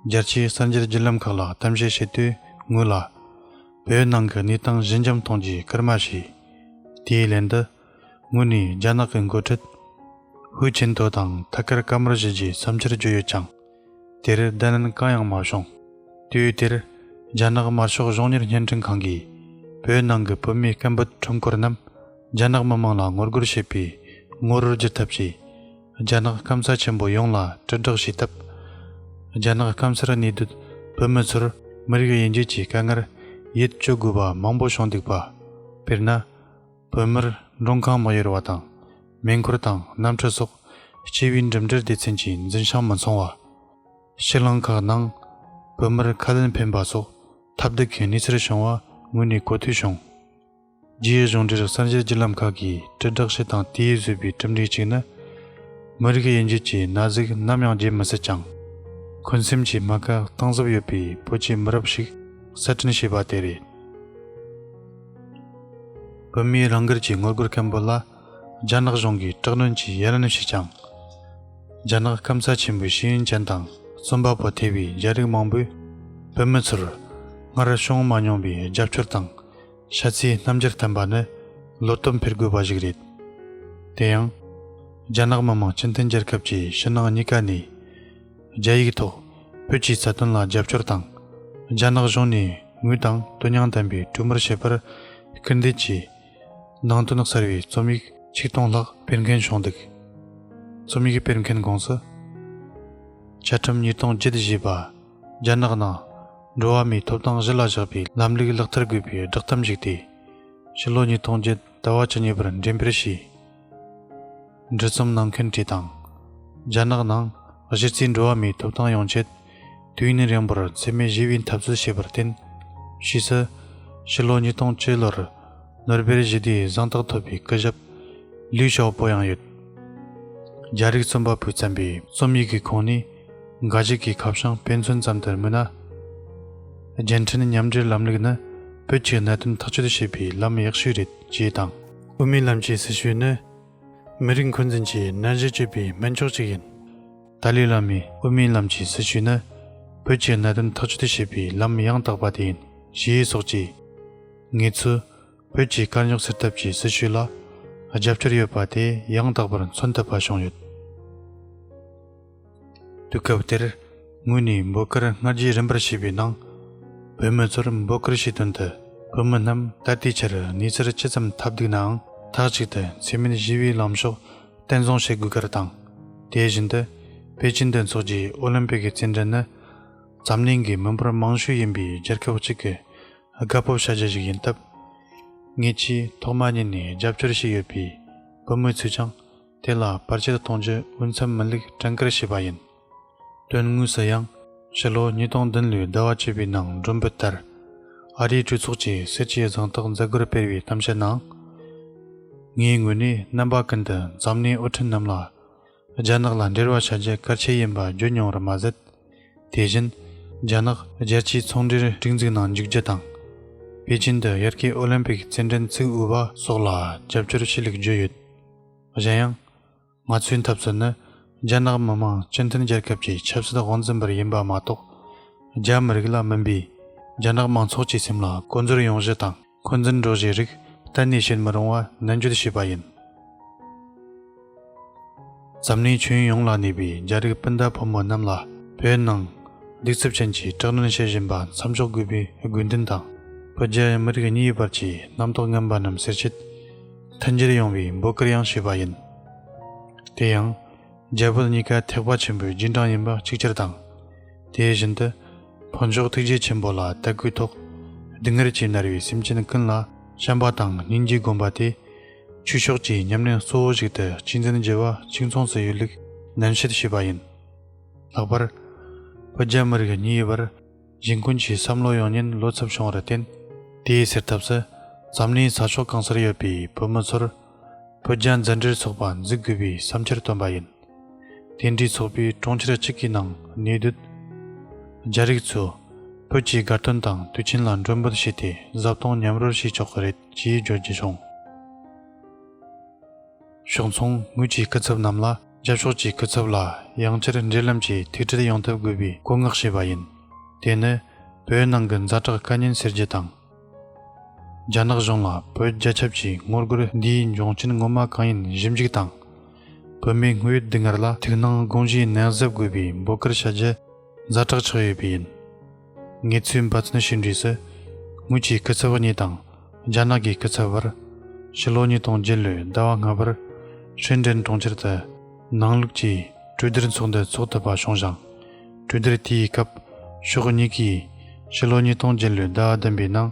རྒྱལ་སྤྱིའི་གསར་འགྱུར་བརྒྱུད་ལམ་ཁག་ལ་གཏམ་བཤད་བྱེད་དུས་ངོས་ལ། བོད་ནང་གི་གནས་སྟངས་གཞི་འཇམ་གཏོང་རྒྱུའི་སྐར་མ་བྱས། དེའི་ལན་དུ། ངོས་ནས་རྒྱ་ནག་གི་མགོ་ཁྲིད་ཧུའུ་ཅིན་ཐོ་དང་ཐད་ཀར་བཀའ་མོལ་བྱས་རྗེས་བསམ་འཆར་བརྗོད་ཡོད་ཀྱང། དེར་བརྡ་ལན་གང་ཡང་མ་བྱུང། དུས་དེར། རྒྱ་ནག་དམར་ཤོག་གཞུང་གཉེར་བརྙན་འཕྲིན་ཁང་གིས་བོད་ནང་གི་བོད་མི་སྐད་འབོད་ཁྲོམ་སྐོར་རྣམས་རྒྱ་ནག་མི་དམངས་ལ་ངོ་རྒོལ་བྱེད་པའི་ངོ་རོར་བསྒྱུར་ཐབས་ཀྱིས། རྒྱ་ནག་སྐམ་ས་ཆེན་པོ་ཡོངས་ལ་དྲིལ་བསྒྲགས་བྱས་སྟབས། རྒྱ་ནག་སྐམ་སར་གནས་སྡོད་བོད་མི་ཚོར་མི་རིགས་དབྱེ་འབྱེད་ཀྱི་དཀའ་ངལ་ཡིད་སྐྱོ་དགོས་པ་མང་པོ་བྱུང་འདུག་པ། དཔེར་ན། བོད་མིར་མགྲོན་ཁང་མ་གཡོར་བ་དང། མེ་འཁོར་དང་གནམ་གྲུ་སོགས་སྤྱི་བའི་འགྲིམ་འགྲུལ་སྡེ་ཚན་གྱི་འཛིན་བྱང་མི་འཚོང་བ། ཕྱི་གླིང་ཁག་ནང་བོད་མིར་ཁ་ལན་འཕེན་པ་སོགས་ཐབས་སྡུག་གི་གནས་ཚུལ་བྱུང་བ་ངོས་ནས་གོ་ཐོས་བྱུང། རྒྱའི་གཞུང་འབྲེལ་གསར་འགྱུར་བརྒྱུད་ལམ་ཁག་གིས་དྲིལ་བསྒྲགས་བྱས་དང་དེས་བཟོས་པའི་གྲུབ་འབྲས་གཅིག་ནི། མི་རིགས་དབྱེ་འབྱེད་ཀྱི་ན་ཟུག་ནམ་ཡང་བརྗེད་མི་སྲིད་ཀྱང། འཁོན་སེམས་ཀྱི་རྨ་ཁ་གཏིང་ཟབ་ཡོད་པའི་བོད་ཀྱི་མི་རབས་ཤིག་གསར་སྐྲུན་བྱས་པ་དེ་རེད། བོད་མིའི་རང་སྒེར་གྱི་དངུལ་སྒོར་སྐམ་པོ་ལ་རྒྱ་ནག་གཞུང་གིས་དྲག་གནོན་གྱིས་ཡར་ལན་ཞུས་ཀྱང། རྒྱ་ནག་སྐམ་ས་ཆེན་པོའི་ཤེས་ཡོན་ཅན་དང་རྩོམ་པ་པོ་ཐེ་བའི་རྒྱ་རིགས་མང་པོས་བོད་མི་ཚོར་སྔར་བྱུང་མ་མྱོང་པའི་རྒྱབ་སྐྱོར་དང་ཤ་ཚའི་རྣམ་འགྱུར་བསྟན་པ་ནི་བློ་སྟོབས་འཕེར་དགོས་པ་ཞིག་རེད། དེ་ཡང། རྒྱ་ནག་མི་དམངས་སྤྱི་མཐུན་རྒྱལ་ཁབ་ཀྱི་ཕྱི་ནང་གཉིས་ཀ་ནས། རྒྱ་ཡིག་ཐོག་བོད་ཀྱི་རྩ་དོན་ལ་རྒྱབ་སྐྱོར་དང། རྒྱ་ནག་གཞུང་ནས་ངོས་དང་དོན་སྙིང་ལྡན་པའི་གྲོས་མོལ་བྱེད་པར་སྐུལ་འདེད་ཀྱིས། ནང་དོན་གསར་བའི་རྩོམ་ཡིག་ཆིག་སྟོང་ལྷག་སྤེལ་མཁན་བྱུང་འདུག་རྩོམ་ཡིག་སྤེལ་མཁན་དགོངས་སུ། བཅའ་ཁྲིམས་ཉིས་སྟོང་བརྒྱད་ཞེས་པ་རྒྱ་ནག་ནང་འགྲོ་བ་མིའི་ཐོབ་ཐང་གཞི་ལ་བཞག་པའི་ལམ་ལུགས་ལག་བསྟར་དགོས་པའི་བསྒྲགས་གཏམ་གཞིགས་ཏེ། ཕྱི་ལོ་ཉིས་སྟོང་བརྒྱད་ཟླ་བ་བཅུ་གཉིས་པར་འགྲེམས་སྤེལ་བྱས། འབྲི་རྩོམ་གནང་མཁན་བཀྲིས་དང། རྒྱ་ནག་ནང་གཞི་རྩའི་འགྲོ་བ་མིའི་ཐོབ་ཐང་ཡོང་ཆེད་དུས་ཡུན་རིང་པོར་འཚེ་མེད་ཞི་བའི་འཐབ་རྩོད་བྱས་པར་བརྟེན། ཕྱིས་སུ་ཕྱི་ལོ་ཉིས་སྟོང་བཅུ་ལོར་ནོར་བེལ་ཞི་བདེའི་གཟེངས་རྟགས་ཐོབ་པའི་སྐུ་ཞབས་ལིའུ་ཞའོ་པོ་ཡང་ཡོད། རྒྱ་རིགས་རྩོམ་པ་པོས་བརྩམས་པའི་རྩོམ་ཡིག་གི་ཁོངས་ནི་འགའ་ཞིག་གི་ཁ་བྱང་དཔེ་མཚོན་ཙམ་དུ་སྨོས་ན། རྒྱལ་འཕྲིན་མཉམ་འབྲེལ་ལམ་ལུགས་ནི་བོད་ཀྱི་གནད་དོན་ཐག་གཅོད་བྱེད་པའི་ལམ་ཡག་ཤོས་རེད་ཅེས་དང། དབུ་མའི་ལམ་གྱི་སྲི་ཞུ་ནི་མི་རིགས་འཁོན་འཛིན་གྱི་རྣལ་འབྱོར་སྤྱོད་པའི་སྨན་མཆོག་ཅིག་ཡིན། ཏཱ་ལའི་བླ་མའི་དབུ་མའི་ལམ་གྱི་སྲི་ཞུ་ནི་བོད་ཀྱི་གནད་དོན་ཐག་གཅོད་བྱེད་པའི་ལམ་ཡང་དག་པ་དེ་ཡིན་ཞེས་ཡིག་སོགས་ཀྱིས། ངེད་ཚོས་བོད་ཀྱི་དཀའ་རྙོག་སེལ་ཐབས་ཀྱི་སྲི་ཞུ་ལ་རྒྱབ་སྐྱོར་ཡོད་པ་དེ་ཡང་དག་པར་མཚོན་ཐུབ་པ་བྱུང་ཡོད། དུས་སྐབས་དེར་ངོས་ནས་འབོད་སྐུལ་སྔར་རྒྱུན་རིམ་པར་བྱས་པའི་ནང། བོད་མི་ཚོར་འབོད་སྐུལ་བྱས་དོན་དུ་བོད་མི་རྣམས་ད་ལྟའི་ཆར་གནས་ཚུལ་ཇི་ཙམ་ཐབས་སྡུག་ནའང་མཐའ་གཅིག་ཏུ་འཚེ་མེད་ཞི་བའི་ལམ་ཕྱོགས་བརྟན་བཟུང་བྱེད་དགོས་ཁར་དང། དེ་བཞིན་དུ་པེ་ཅིན་དུ་འཚོགས་རྒྱུའི་ཨོ་ལིམ་པིག་གི་རྩེད་འགྲན་ནི་འཛམ་གླིང་གི་མི་འབོར་མང་ཤོས་ཡིན་པའི་རྒྱལ་ཁབ་གཅིག་གི་དགའ་སྤོབས་བྱ་རྒྱུ་ཞིག་ཡིན་སྟབས། ངེད་ཀྱིས་ཐོག་མ་ཉིད་ནས་རྒྱབ་སྐྱོར་བྱས་ཡོད་པའི་བོད་མི་ཚོས་ཀྱང། དེ་ལ་བར་ཆད་གཏོང་རྒྱུ་འོས་འཚམས་མི་ལུགས་བྲན་བཀར་བྱས་པ་ཡིན། དོན་དངོས་སུ་ཡང་ཕྱི་ལོ་ཉིས་སྟོང་བདུན་ལོའི་ཟླ་བ་བཅུ་པའི་ནང་སྒྲོམ་བུ་ལྟར་ཨ་རིའི་གྲོས་ཚོགས་ཀྱི་སྲིད་ཇུས་གཟེངས་རྟགས་མཛད་སྒོར་སྤེལ་བའི་གཏམ་བཤད་ནང། ངའི་ངོས་ནས་རྣམ་པ་ཀུན་ཏུ་འཛམ་གླིང་དབུ་ཁྲིད་རྣམས་ལ་རྒྱ་ནག་ལ་འབྲེལ་བ་བྱ་རྒྱུ་གལ་ཆེ་ཡིན་པ་བརྗོད་མྱོང་བར་མ་ཟད། དེ་བཞིན་རྒྱ་ནག་རྒྱལ་སྤྱིའི་ཚོང་འབྲེལ་སྒྲིག་འཛུགས་ནང་འཇུག་རྒྱུ་དང། པེ་ཅིན་དུ་ཡར་སྐྱེས་ཨོ་ལིམ་པིག་རྩེད་འགྲན་ཚུགས་འོས་པ་སོགས་ལ་རྒྱབ་སྐྱོར་ཆེ་ལུགས་བརྗོད་ཡོད། གཞན་ཡང། ང་ཚོའི་འཐབ་རྩོད་ནི་རྒྱ་ནག་མི་དམངས་སྤྱི་མཐུན་རྒྱལ་ཁབ་ཀྱི་ཆབ་སྲིད་དབང་འཛིན་པར་ཡིན་པ་མ་གཏོགས། རྒྱ་མི་རིགས་ལ་མིན་པའི་རྒྱ་ནག་མང་ཚོགས་ཀྱི་སེམས་ལ་ཀོ་འཛོལ་ཡོང་གཞི་དང་འཁོན་འཛིན་འགྲོ་གཞིའི་རིགས་གཏན་ནས་བྱེད་མི་རུང་བ་ནན་བརྗོད་བྱས་པ་ཡིན། འཛམ་གླིང་ཁྱོན་ཡོངས་ལ་གནས་པའི་རྒྱ་རིགས་སྤུན་ཟླ་ཕོ་མོ་རྣམས་ལ་བོད་ནང་སྡིག་རྩུབ་ཅན་གྱི་དྲག་གནོན་བྱེད་བཞིན་པ་མཚམས་འཇོག་དགོས་པའི་དགོས་འདུན་དང། བོད་རྒྱ་མི་རིགས་གཉིས་བར་གྱི་རྣམ་རྟོག་ངན་པ་རྣམས་སེལ་ཆེད། མཐུན་འགྱུར་ཡོང་བའི་འབོད་སྐུལ་ཡང་ཞུས་པ་ཡིན། དེ་ཡང། རྒྱ་བོད་གཉིས་ཀ་ཐེག་པ་ཆེན་པོའི་རྗེས་འབྲང་ཡིན་པ་གཅིག་གྱུར་དང། དེ་བཞིན་དུ། ཕོ་མཆོག་ཐུགས་རྗེ་ཆེན་པོ་ལ་དད་གུས་ཐོག། སྡུག་བསྔལ་གྱིས་མནར་བའི་སེམས་ཅན་ཀུན་ལ་བྱམས་པ་དང་སྙིང་རྗེ་སྒོམ་པ་དེ། ཆོས་ཕྱོགས་ཀྱི་ཉམས་ལེན་གཙོ་བོ་ཞིག་ཏུ་གཅིག་འཛིན་བགྱི་བ་གཅིག་མཚུངས་སུ་ཡོད་ལུགས་ནན་བཤད་ཞུས་པ་ཡིན། ལྷག་པར། བོད་རྒྱ་མི་རིགས་གཉིས་བར། གཞན་ཀུན་གྱིས་བསམ་བློ་ཡོང་ཉེན་ལོ་ཚབས་བྱུང་བར་བརྟེན། དེའི་སེལ་ཐབས་སུ། འཛམ་གླིང་ས་ཕྱོགས་གང་སར་ཡོད་པའི་བོད་མི་ཚོར། བོད་རྒྱ་མཛའ་འབྲེལ་ཚོགས་པ་འཛུགས་དགོས་པའི་བསམ་འཆར་བཏོན་པ་ཡིན། དེ་འདྲའི་ཚོགས་པའི་དྲུང་ཆེར་གཅིག་གི་ནང་གནས་སྡོད། རྒྱ་རིགས་ཚོས། བོད་ཀྱི་དགའ་སྟོན་དང་དུས་ཆེན་ལ་མགྲོན་འབོད་བྱས་ཏེ་བཟའ་བཏུང་མཉམ་རོལ་བྱེད་ཆོག་གི་རེད་ཅེས་བརྗོད་རྒྱུ་བྱུང། ཕྱོགས་མཚུངས་ངོས་ཀྱི་སྐུ་ཚབ་རྣམས་ལ། རྒྱབ་ཕྱོགས་ཀྱི་སྐུ་ཚབ་ལ་ཡང་བསྐྱར་འབྲེལ་ལམ་གྱི་ཐུག་འཕྲད་ཡོང་ཐབས་དགོས་པའི་བཀོད་མངགས་བྱས་པ་ཡིན། དེ་ནི་བོད་ནང་གི་མཛའ་གྲགས་བཀའ་ཉན་སེར་བརྒྱད་དང། རྒྱ་ནག་གཞུང་ལ་བོད་རྒྱ་ཁྱབ་ཀྱི་ངོ་རྒོལ་འདིའི་འབྱུང་རྐྱེན་ངོ་མ་གང་ཡིན་ཞིབ་འཇུག་དང། བོད་མིའི་དངོས་ཡོད་སྡུག་བསྔལ་ལ་ཐུགས་སྣང་དགོངས་གཞིའི་ནན་གཟབ་དགོས་པའི་འབོད་སྐུལ་བྱ་རྒྱུ་མཛའ་གྲགས་ཆགས་ཡོད་པས་ཡིན། ངལ་རྩོལ་འབའ་ཚོན་ཞིག་འབྲི་སྲིད། ངོས་ཀྱི་སྐུ་ཚབ་གཉིས་དང་རྒྱ་ནག་གི་སྐུ་ཚབ་བར། ཕྱི་ལོ་ཉིས་སྟོང་བརྒྱད་ལོའི་ཟླ་བ་ལྔ་པར། ཧྲིན་ཀྲེན་གྲོང་ཁྱེར་དུ་ནང་ལུགས་ཀྱི་གྲོས་བསྡུར་ཚོགས་འདུ་འཚོགས་ཐུབ་པ་བྱུང་ཞིང། གྲོས་བསྡུར་དེའི་སྐབས་ཕྱོགས་གཉིས་ཀས་ཕྱི་ལོ་ཉིས་སྟོང་བརྒྱད་ལོའི་ཟླ་བ་བདུན་པའི་ནང།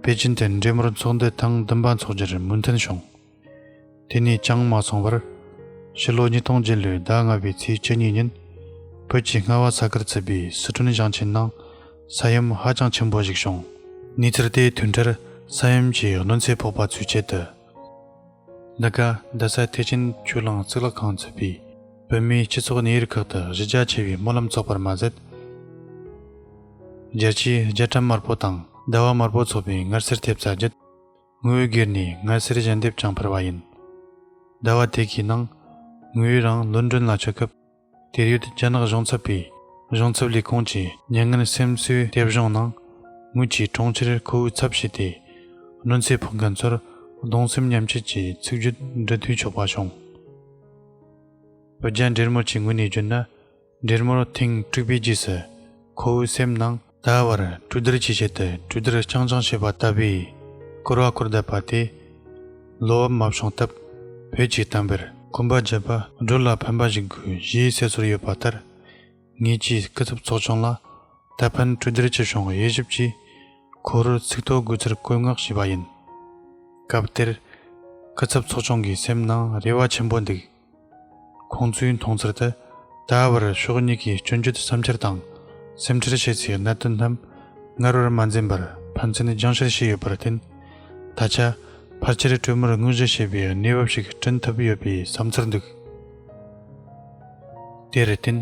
པེ་ཅིན་དུ་འབྲེལ་མོལ་ཚོགས་འདུ་ཐེངས་བདུན་པ་འཚོགས་རྒྱུར་མོས་མཐུན་བྱུང། དེ་ནས་ཅང་མ་སོང་བར། ཕྱི་ལོ་ཉིས་སྟོང་བརྒྱད་ལོའི་ཟླ་ལྔ་པའི་ཚེས་བཅུ་གཉིས་ཉིན། བོད་ཀྱི་རྔ་བ་ས་ཁུལ་བརྩིས་པའི་སི་ཁྲོན་ཞིང་ཆེན་ནང་ས་ཡོམ་ཧ་ཅང་ཆེན་པོ་ཞིག་བྱུང། གནས་ཚུལ་དེའི་དུས་འཕྲལ་ས་ཡོམ་གྱི་གནོད་འཚེ་ཕོག་པ་ཚུད་ཆེད་དུ། འདི་ག་རྡ་ས་ཐེག་ཆེན་ཆུ་གླང་གཙུག་ལག་ཁང་བརྩིས་པའི་བོད་མིའི་སྤྱི་ཚོགས་གནས་ཡུལ་ཁག་ཏུ་གཞི་རྒྱ་ཆེ་བའི་སྨོན་ལམ་ཚོགས་པར་མ་ཟད། རྒྱལ་སྤྱིའི་རྒྱལ་ཁྲིམས་དམར་པོ་དང་ཟླ་བ་དམར་པོ་ཚོགས་པའི་མངར་ཟས་ཐེབས་རྩ་བརྒྱུད། ངུའི་སྒེར་ནི་ངལ་སེར་ཞལ་འདེབས་ཀྱང་འཕར་བ་ཡིན། ཟླ་བ་དེ་གའི་ནང་ངུའི་རང་བློ་འདྲོན་ལ་ཆགས་སྐབས་དེར་ཡོད་རྒྱ་ནག་གཞུང་ཚབ་པའི་གཞུང་ཚབ་ལས་ཁུངས་ཀྱི་ཉེ་ངན་སེམས་གསོའི་དེབ་གཞུང་ནང་ངུ་ཆེའི་གྲོང་ཁྱེར་ཁོ་བོའི་ཚབ་བྱས་ཏེ་གནོད་འཚེ་ཕོག་མཁན་ཚོར་གདུང་སེམས་མཉམ་སྐྱེད་ཀྱི་ཚིག་བརྗོད་འབྲི་དུས་ཆོག་པ་བྱུང། བོད་རྒྱ་འབྲེལ་མོ་ཆེ་ངུ་ནས་བརྗོད་ན་འབྲེལ་མོར་ཐེངས་དཀྲུགས་པའི་རྗེས་སུ། ཁོ་བོའི་སེམས་ནང། ད་བར་གྲུ་དར་གྱི་ཆེད་དུ་གྲུ་དར་རྐྱང་རྐྱང་བྱས་པ་ལྟ་བུའི་སྐོར་བ་སྐོར་བསྡད་པ་དེ། བློ་འབབ་མ་བྱུང་སྟབས་བོད་ཀྱི་དམ་པར། སྐུ་འབག་བརྒྱབ་པ་སྒྲོལ་ལ་ཕན་པ་ཞིག་དགོས་གཞིའི་གསལ་ཚོར་ཡོད་པ་ལྟར། ངེད་ཀྱི་སྐུ་ཚབ་ཚོགས་ཆུང་ལ་ད་ཕན་གྲུ་དར་གྱི་གཞུང་དབྱེ་ཞིབ་ཀྱིས། ཁོ་རུ་ཚིག་ཐོ་དགོས་ཚུལ་བཀོད་མངགས་བྱས་པ་ཡིན། སྐབས་དེར། སྐུ་ཚབ་ཚོགས་ཆུང་གི་སེམས་ནང་རེ་བ་ཆེན་པོ་འདུག། ཁོང་ཚོའི་མཐོང་ཚུལ་ལྟར། ད་བར་ཕྱོགས་གཉིས་ཀྱིས་སྐྱོན་བརྗོད་བསམ་འཆར་དང་སེམས་ཁྲལ་བྱས་ཚེ་གནད་དོན་རྣམས་སྔར་བར་མ་འཛིན་པར་ཕན་ཚུན་སྦྱང་བཤེར་བྱས་ཡོད་པར་བརྟེན། ད་ཆ་ཕལ་ཆེར་གྲོས་མོལ་དངོས་གཞི་བྱེད་པའི་གནས་བབ་ཞིག་བསྐྲུན་ཐུབ་ཡོད་པའི་བསམ་ཚུལ་འདུག་དེར་བརྟེན།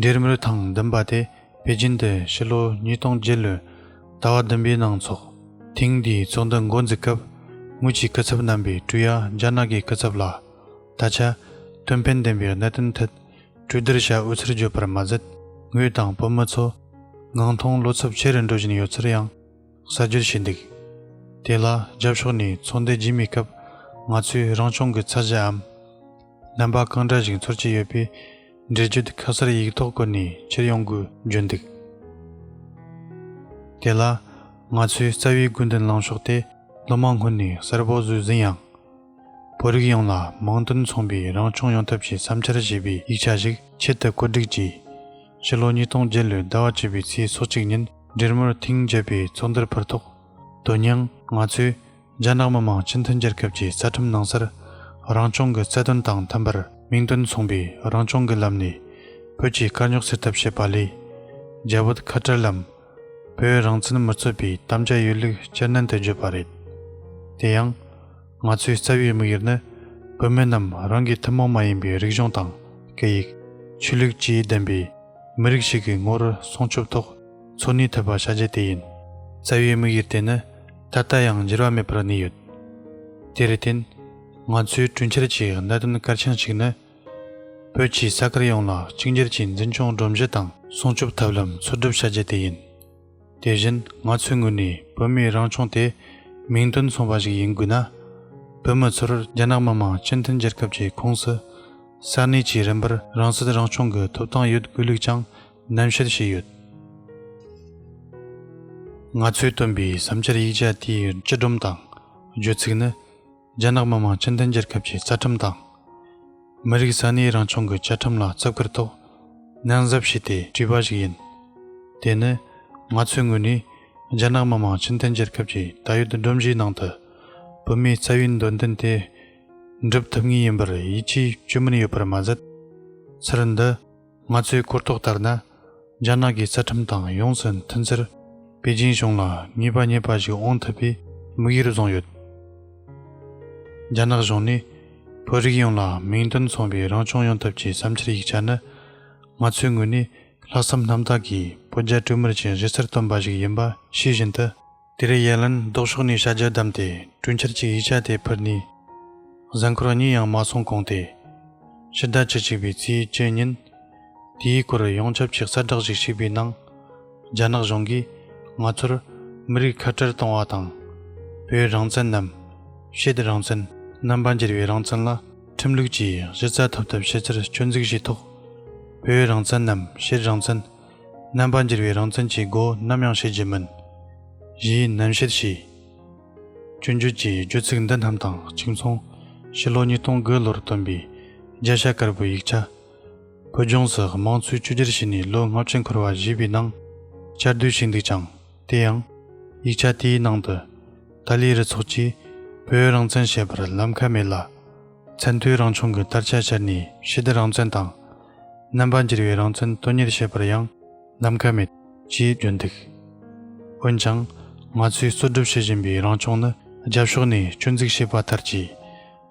འབྲེལ་མོལ་ཐེངས་བདུན་པ་དེ་པེ་ཅིན་དུ་ཕྱི་ལོ་ཉིས་སྟོང་བརྒྱད་ལོའི་ཟླ་བ་བདུན་པའི་ནང་འཚོགས། ཐེངས་འདིའི་ཚོགས་འདུ་འགོ་འཛུགས་སྐབས་དངུལ་གྱི་སྐུ་ཚབ་རྣམ་པའི་ཀྲུའུ་ཡཱ་རྒྱ་ནག་གི་སྐུ་ཚབ་ལ། ད་ཆ། དོན་ཕན་ལྡན་པའི་གནད་དོན་ཐད། གྲོས་བསྡུར་བྱ་འོས་ཚུལ་བརྗོད་པར་མ་ཟད། ངོས་དང་བོད་མི་ཚོ། ངང་ཐོག་བློ་འཚབ་ཆེ་རུ་འགྲོ་བཞིན་ཡོད་ཚུལ་ཡང་གསར་བརྗོད་བྱས་འདུག་དེ་ལ་རྒྱབ་ཕྱོགས་ནས་ཚོགས་འདུ་རྒྱུན་མིའི་སྐབས་ང་ཚོས་རང་སྐྱོང་གི་ཚད་གཞིའམ། རྣམ་པ་གང་འདྲ་ཞིག་འཚོལ་གྱི་ཡོད་པའི་འགྲེལ་བརྗོད་ཁ་གསལ་ཡིག་ཐོག་བཀོད་ནས་ཕྱིར་ཡོང་དགོས་བརྗོད་འདུག་དེ་ལ། ང་ཚོའི་རྩ་བའི་དགོས་འདུན་ལངས་ཕྱོགས་དེ་སློབ་མ་སྔོན་ནས་གསལ་པོ་བཟོས་ཟིན་ཡང། བོད་རིགས་ཡོངས་ལ་མིང་དོན་མཚུངས་པའི་རང་སྐྱོང་ཡོང་ཐབས་ཀྱི་བསམ་འཆར་ཞེས་པའི་ཡིག་ཆ་ཞིག་ཆེད་དུ་བཀོད་སྒྲིག་གྱིས། ཕྱི་ལོ་ཉིས་སྟོང་བརྒྱད་ལོའི་ཟླ་བ་བཅུ་པའི་ཚེས་སོ་གཅིག་ཉིན་འབྲེལ་མོལ་ཐེངས་བརྒྱད་པའི་ཚོགས་འདུར་ཕུལ་ཐོག་དོན་སྙིང། ང་ཚོས་རྒྱ་ནག་མི་དམངས་སྤྱི་མཐུན་རྒྱལ་ཁབ་ཀྱི་རྩ་ཁྲིམས་ནང་གསར་རང་སྐྱོང་གི་རྩ་དོན་དང་མཐུན་པར་མིང་དོན་མཚུངས་པའི་རང་སྐྱོང་གི་ལམ་ནས་བོད་ཀྱི་དཀའ་རྙོག་སེལ་ཐབས་བྱེད་པ་ལས། རྒྱ་བོད་ཁ་བྲལ་ལམ་བོད་རང་བཙན་མི་རྩོད་པའི་དམ་བཅའ་ཡོད་ལུགས་སྤྱིར་ནན་དུ་བརྗོད་པ་རེད། དེ་ཡང། ང་ཚོའི་རྩ་བའི་དམིགས་ཡུལ་ནི་བོད་མི་རྣམས་རང་གི་ཐུན་མོང་མ་ཡིན་པའི་རིག་གཞུང་དང་སྐད་ཡིག། ཆོས་ལུགས་བཅས་ལྡན་པའི་མི་རིགས་ཤིག་གི་ངོ་བོར་སྲུང་སྐྱོབ་ཐོག་འཚོ་གནས་ཐུབ་པ་བྱ་རྒྱུ་དེ་ཡིན། རྩ་བའི་དམིགས་ཡུལ་དེ་ནི་ད་ལྟ་ཡང་འགྱུར་བ་མེད་པར་གནས་ཡོད། དེར་བརྟེན། ང་ཚོའི་གྲོས་འཆར་གྱི་གནད་དོན་གལ་ཆེན་ཞིག་ནི། བོད་ཀྱི་ས་ཁུལ་ཡོངས་ལ་གཅིག་འགྱུར་གྱི་འཛིན་སྐྱོང་སྒྲོམ་གཞི་དང་སྲུང་སྐྱོབ་ཐབས་ལམ་འཚོལ་སྒྲུབ་བྱ་རྒྱུ་དེ་ཡིན། དེ་བཞིན་ང་ཚོའི་ངོས་ནས་བོད་མིའི་རང་སྐྱོང་དེ་མིང་དོན་མཚུངས་པ་ཞིག་ཡིན་དགོས་ན། བོད་མི་ཚོར་རྒྱ་ནག་མི་དམངས་སྤྱི་མཐུན་རྒྱལ་ཁབ་ཀྱི་ཁོངས་སུ་ས་གནས་ཀྱི་རིམ་པར་རང་སྲིད་རང་སྐྱོང་གི་ཐོབ་ཐང་ཡོད་དགོས་ལུགས་ཀྱང་ནན་བཤད་བྱས་ཡོད། ང་ཚོས་བཏོན་པའི་བསམ་འཆར་ཡིག་ཆ་དེའི་སྤྱི་སྒྲོམ་དང་བརྗོད་ཚིག་ནི། རྒྱ་ནག་མི་དམངས་སྤྱི་མཐུན་རྒྱལ་ཁབ་ཀྱི་རྩ་ཁྲིམས་དང། མི་རིགས་ས་གནས་རང་སྐྱོང་གི་བཅའ་ཁྲིམས་ལ་བརྩི་བཀུར་ཐོག་ནན་གཟབ་བྱས་ཏེ་བྲིས་པ་ཞིག་ཡིན། དེ་ནི་ང་ཚོའི་ངོས་ནས་རྒྱ་ནག་མི་དམངས་སྤྱི་མཐུན་རྒྱལ་ཁབ་ཀྱི་ད་ཡོད་སྒྲོམ་གཞིའི་ནང་དུ་བོད་མིའི་རྩ་བའི་འདོད་འདུན་དེ་འགྲུབ་ཐུབ་ངེས་ཡིན་པར་ཡིད་ཆེས་བཅོས་མིན་ཡོད་པར་མ་ཟད། ཚུལ་འདི། ང་ཚོའི་གོ་རྟོགས་ལྟར་ན། རྒྱ་ནག་གི་རྩ་ཁྲིམས་དང་ཡོངས་སུ་མཐུན་ཚེར། པེ་ཅིན་གཞུང་ལ་ངེས་པ་རྙེད་པ་ཞིག་འོང་ཐུབ་པའི་དམིགས་ཡུལ་བཟུང་ཡོད། རྒྱ་ནག་གཞུང་ནས་བོད་རིགས་ཡོངས་ལ་མིང་དོན་མཚུངས་པའི་རང་སྐྱོང་ཡོང་ཐབས་ཀྱི་བསམ་འཆར་ཡིག་ཆ་ནི། ང་ཚོའི་ངོས་ནས་ལྷག་བསམ་རྣམ་དག་གིས་བོད་རྒྱ་གྲོས་མོལ་གྱི་གཞི་རྩར་བཏོན་པ་ཞིག་ཡིན་པ་ཤེས་བཞིན་དུ། དེ་རེས་ཡན་ལན་ལྡོག་ཕྱོགས་ནས་བྱ་རྒྱལ་བསྡམས་ཏེ་གྲོས་འཆར་གྱི་ཡིག་ཆ་དེ་ཕུལ་ནས། གཟའ་འཁོར་བ་གཉིས་ཡང་མ་སོང་གོང་སྟེ། ཕྱི་ཟླ་བཅུ་གཅིག་པའི་ཚེས་བཅུ་ཉིན། དེའི་སྐོར་ཡོངས་ཁྱབ་ཀྱི་གསལ་བསྒྲགས་ཤིག་ཕྱིས་པའི་ནང། རྒྱ་ནག་གཞུང་གིས་ང་ཚོར་མི་རིགས་ཁ་བྲལ་གཏོང་བ་དང། བོད་རང་བཙན་ནམ། ཤེད་རང་བཙན། རྣམ་པ་འགྱུར་བའི་རང་བཙན་ལ་ཁྲིམས་ལུགས་ཀྱིས་གཞི་རྩ་ཐོབ་ཐབས་བྱེད་རྩར་སྐྱོན་འཛུགས་བྱས་ཐོག། བོད་རང་བཙན་ནམ་ཤེད་རང་བཙན། རྣམ་པར་འགྱུར་བའི་རང་མཚན་གྱི་སྒོ་ནམ་ཡང་ཕྱེ་རྒྱུ་མིན། ཞེས་རྣམ་བཤད་བྱས། སྤྱོད་འཇུག་གི་རྒྱུད་ཚིག་འདི་རྣམས་དང་གཅིག་མཚུངས་ཕྱི་ལོ་ཉིས་སྟོང་དགུ་ལོར་བཏོན་པའི་རྒྱ་ཤ་དཀར་པོའི་ཡིག་ཆ། བོད་ལྗོངས་སུ་དམངས་གཙོའི་བཅོས་སྒྱུར་བྱས་ནས་ལོ་ལྔ་བཅུ་འཁོར་བ་བཞེས་པའི་ནང་བསྐྱར་ཟློས་བྱས་འདུག་ཀྱང་དེ་ཡང། ཡིག་ཆ་དེའི་ནང་དུ། ཏཱ་ལའི་རུ་ཚོགས་ཀྱིས་བོད་རང་བཙན་བྱེད་པར་ལམ་ཁ་མེད་ལ། མཚན་མཐུན་རང་བྱུང་གི་དར་ཆ་ཕྱར་ནས་ཕྱི་བདེ་རང་བཙན་དང། རྣམ་པར་འགྱུར་བའི་རང་མཚན་དོན་གཉེར་བྱེད་པར་ཡང་ནམ་མཁའ་མེད། ཅེས་བརྗོད་འདུག་འོན་ཀྱང། ང་ཚོས་རྩོད་སྒྲུབ་བྱེད་བཞིན་པའི་རང་སྐྱོང་ནི་རྒྱབ་ཕྱོགས་ནས་སྐྱོན་འཛུགས་བྱས་པ་ལྟར་གྱིས།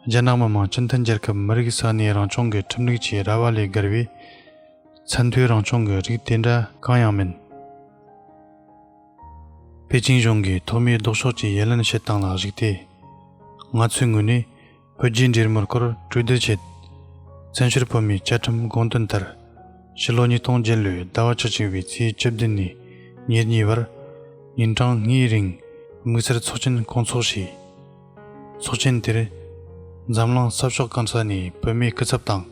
རྒྱ་ནག་མི་དམངས་སྤྱི་མཐུན་རྒྱལ་ཁབ་མི་རིགས་ས་གནས་རང་སྐྱོང་གི་ཁྲིམས་ལུགས་ཀྱི་ར་བ་ལས་བརྒལ་བའི། ཚད་མཐོའི་རང་སྐྱོང་གི་རིགས་དེ་འདྲ་གང་ཡང་མིན། པེ་ཅིང་གཞུང་གིས་ཐོག་མའི་ལྡོག་ཕྱོགས་ཀྱི་ཡི་ལན་བྱེད་སྟངས་ལ་གཞིགས་ཏེ། ང་ཚོའི་ངོས་ནས་བོད་རྒྱའི་འབྲེལ་མོལ་སྐོར་གྲོས་བསྡུར་བྱས། བཙན་བྱོལ་བོད་མིའི་བཅའ་ཁྲིམས་དགོངས་དོན་ལྟར། ཕྱི་ལོ་ཉིས་སྟོང་བརྒྱད་ལོའི་ཟླ་བ་ཆ་གཅིག་པའི་ཚེས་བཅུ་བདུན་ནས་ཉེར་གཉིས་བར། ཉིན་གྲངས་ལྔའི་རིང་དམིགས་བསལ་ཚོགས་ཆེན་སྐོང་ཚོགས་བྱས། ཚོགས་ཆེན་དེར། འཛམ་གླིང་ས་ཕྱོགས་གང་ས་ནས་བོད་མིའི་སྐུ་ཚབ་དང།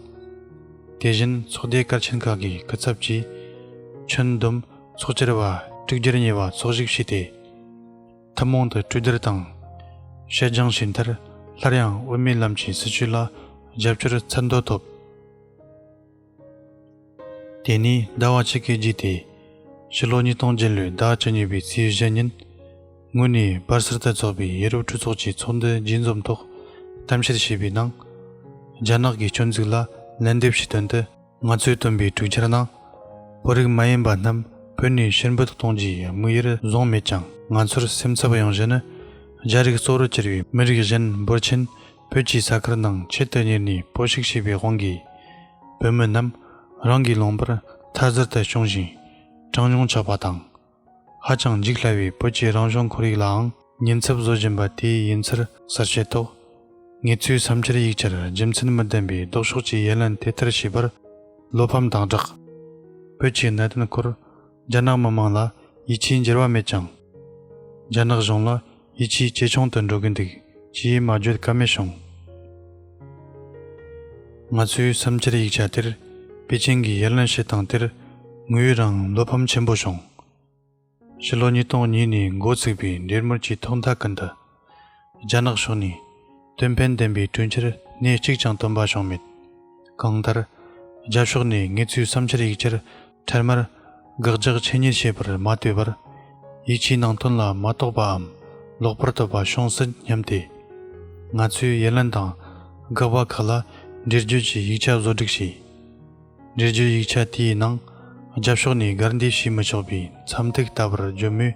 དེ་བཞིན་ཚོགས་སྡེ་སྐར་ཆེན་ཁག་གི་སྐུ་ཚབ་བཅས་ཁྱོན་བསྡོམས་ཚོགས་བཅར་བ་དྲུག་བརྒྱར་ཉེ་བ་ཚོགས་ཞུགས་བྱས་ཏེ། ཐུན་མོང་དུ་གྲོས་བསྡུར་དང། བཤད་སྦྱང་བྱས་མཐར་སླར་ཡང་དབུ་མའི་ལམ་གྱི་སྲིད་བྱུས་ལ་རྒྱབ་སྐྱོར་མཚན་འདོན་ཐོབ། དེ་ནས་ཟླ་བ་གཅིག་གི་རྗེས་ཏེ། ཕྱི་ལོ་ཉིས་སྟོང་བརྒྱད་ལོའི་ཟླ་བཅུ་གཉིས་པའི་ཚེས་བཞི་ཉིན། ངོས་ནས་སྦར་སིལ་དུ་འཚོགས་པའི་ཡེ་རུབ་གྲོས་ཚོགས་ཀྱི་ཚོགས་འདུ་རྒྱས་འཛོམས་ཐོག་གཏམ་བཤད་བྱས་པའི་ནང། རྒྱ་ནག་གི་སྐྱོན་འཛུགས་ལ་ལན་འདེབས་ཀྱི་དོན་དུ། ང་ཚོས་བཏོན་པའི་གྲོས་འཆར་ནང། བོད་རིགས་མ་ཡིན་པ་རྣམས་བོད་ནས་ཕྱིར་འབུད་གཏོང་རྒྱུའི་དམིགས་ཡུལ་བཟུང་མེད་ཀྱང་ང་ཚོར་སེམས་འཚབ་ཡོང་གཞི་ནི། རྒྱ་རིགས་གཙོ་བོར་གྱུར་བའི་མི་རིགས་གཞན་འབོར་ཆེན་བོད་ཀྱི་ས་ཁུལ་ནང་ཆེད་དུ་གཉེར་ནས་པོ་ཞིག་བྱས་པའི་དབང་གིས། བོད་མི་རྣམས་རང་གིས་ལོངས་པར་མཐར་ཟུར་དུ་བྱུང་ཞིང་གྲངས་ཉུང་ཆགས་པ་དང། ཧ་ཅང་འཇིགས་སླ་བའི་བོད་ཀྱི་རང་བྱུང་ཁོར་ཡུག་ལའང་ཉེན་ཚབས་བཟོ་བཞིན་པ་དེ་ཡིན་ཚུལ་གསར་བཤད་ཐོག། ངེད་ཚོའི་བསམ་འཆར་ཡིག་ཆར་རྒྱུ་མཚན་མི་ལྡན་པའི་ལྡོག་ཕྱོགས་ཀྱི་ཡན་ལན་དེ་ལྟར་བྱས་པར་བློ་ཕམ་དང་སྦྲགས། བོད་ཀྱི་གནད་དོན་སྐོར་རྒྱ་ནག་མི་དམངས་ལ་ཡིད་ཆེས་འགྱུར་བ་མེད་ཀྱང། རྒྱ་ནག་གཞུང་ལ་ཡིད་ཆེས་ཇེ་ཆུང་དུ་འགྲོ་གི་འདུག་ཅེས་མ་བརྗོད་ཀ་མེད་བྱུང། ང་ཚོའི་བསམ་འཆར་ཡིག་ཆ་དེར་པེ་ཅིང་གི་ཡར་ལན་ཞུས་སྟངས་དེར་ངུ་ཡོད་རང་བློ་ཕམ་ཆེན་པོ་བྱུང། ཕྱི་ལོ་ཉིས་སྟོང་གཉིས་ནས་འགོ་བཙུགས་པའི་འབྲེལ་མོལ་གྱི་ཐོག་མཐའ་ཀུན་ཏུ་རྒྱ་ནག་ཕྱོགས་ནས་དོན་ཕན་ལྡན་པའི་གྲོས་འཆར་སྣེ་གཅིག་ཀྱང་བཏོན་པ་བྱུང་མེད། གང་ལྟར། རྒྱ་ཕྱོགས་ནས་ངེད་ཚོའི་བསམ་འཆར་ཡིག་ཆར་འཕྲལ་མར་དགག་རྒྱག་ཆེ་ཉེས་བྱེད་པར་མ་ལྟོས་པར། ཡིད་ཆེས་ནང་དོན་ལ་མ་རྟོགས་པའམ་ལོག་པར་བསྟོད་པ་བྱུང་སྲིད་སྙམ་སྟེ། ང་ཚོས་ཡི་ལན་དང་དགག་པ་ཁག་ལ་འགྲེལ་བརྗོད་ཀྱི་ཡིག་ཆ་བཟོ་སྒྲིག་བྱས། འགྲེལ་བརྗོད་ཡིག་ཆ་དེའི་ནང་རྒྱབ་ཕྱོགས་ནས་སྒར་འདེད་བྱས་མི་ཆོག་པའི་མཚམས་ཐིག་ལྟ་བུར་བརྗོད་མོད།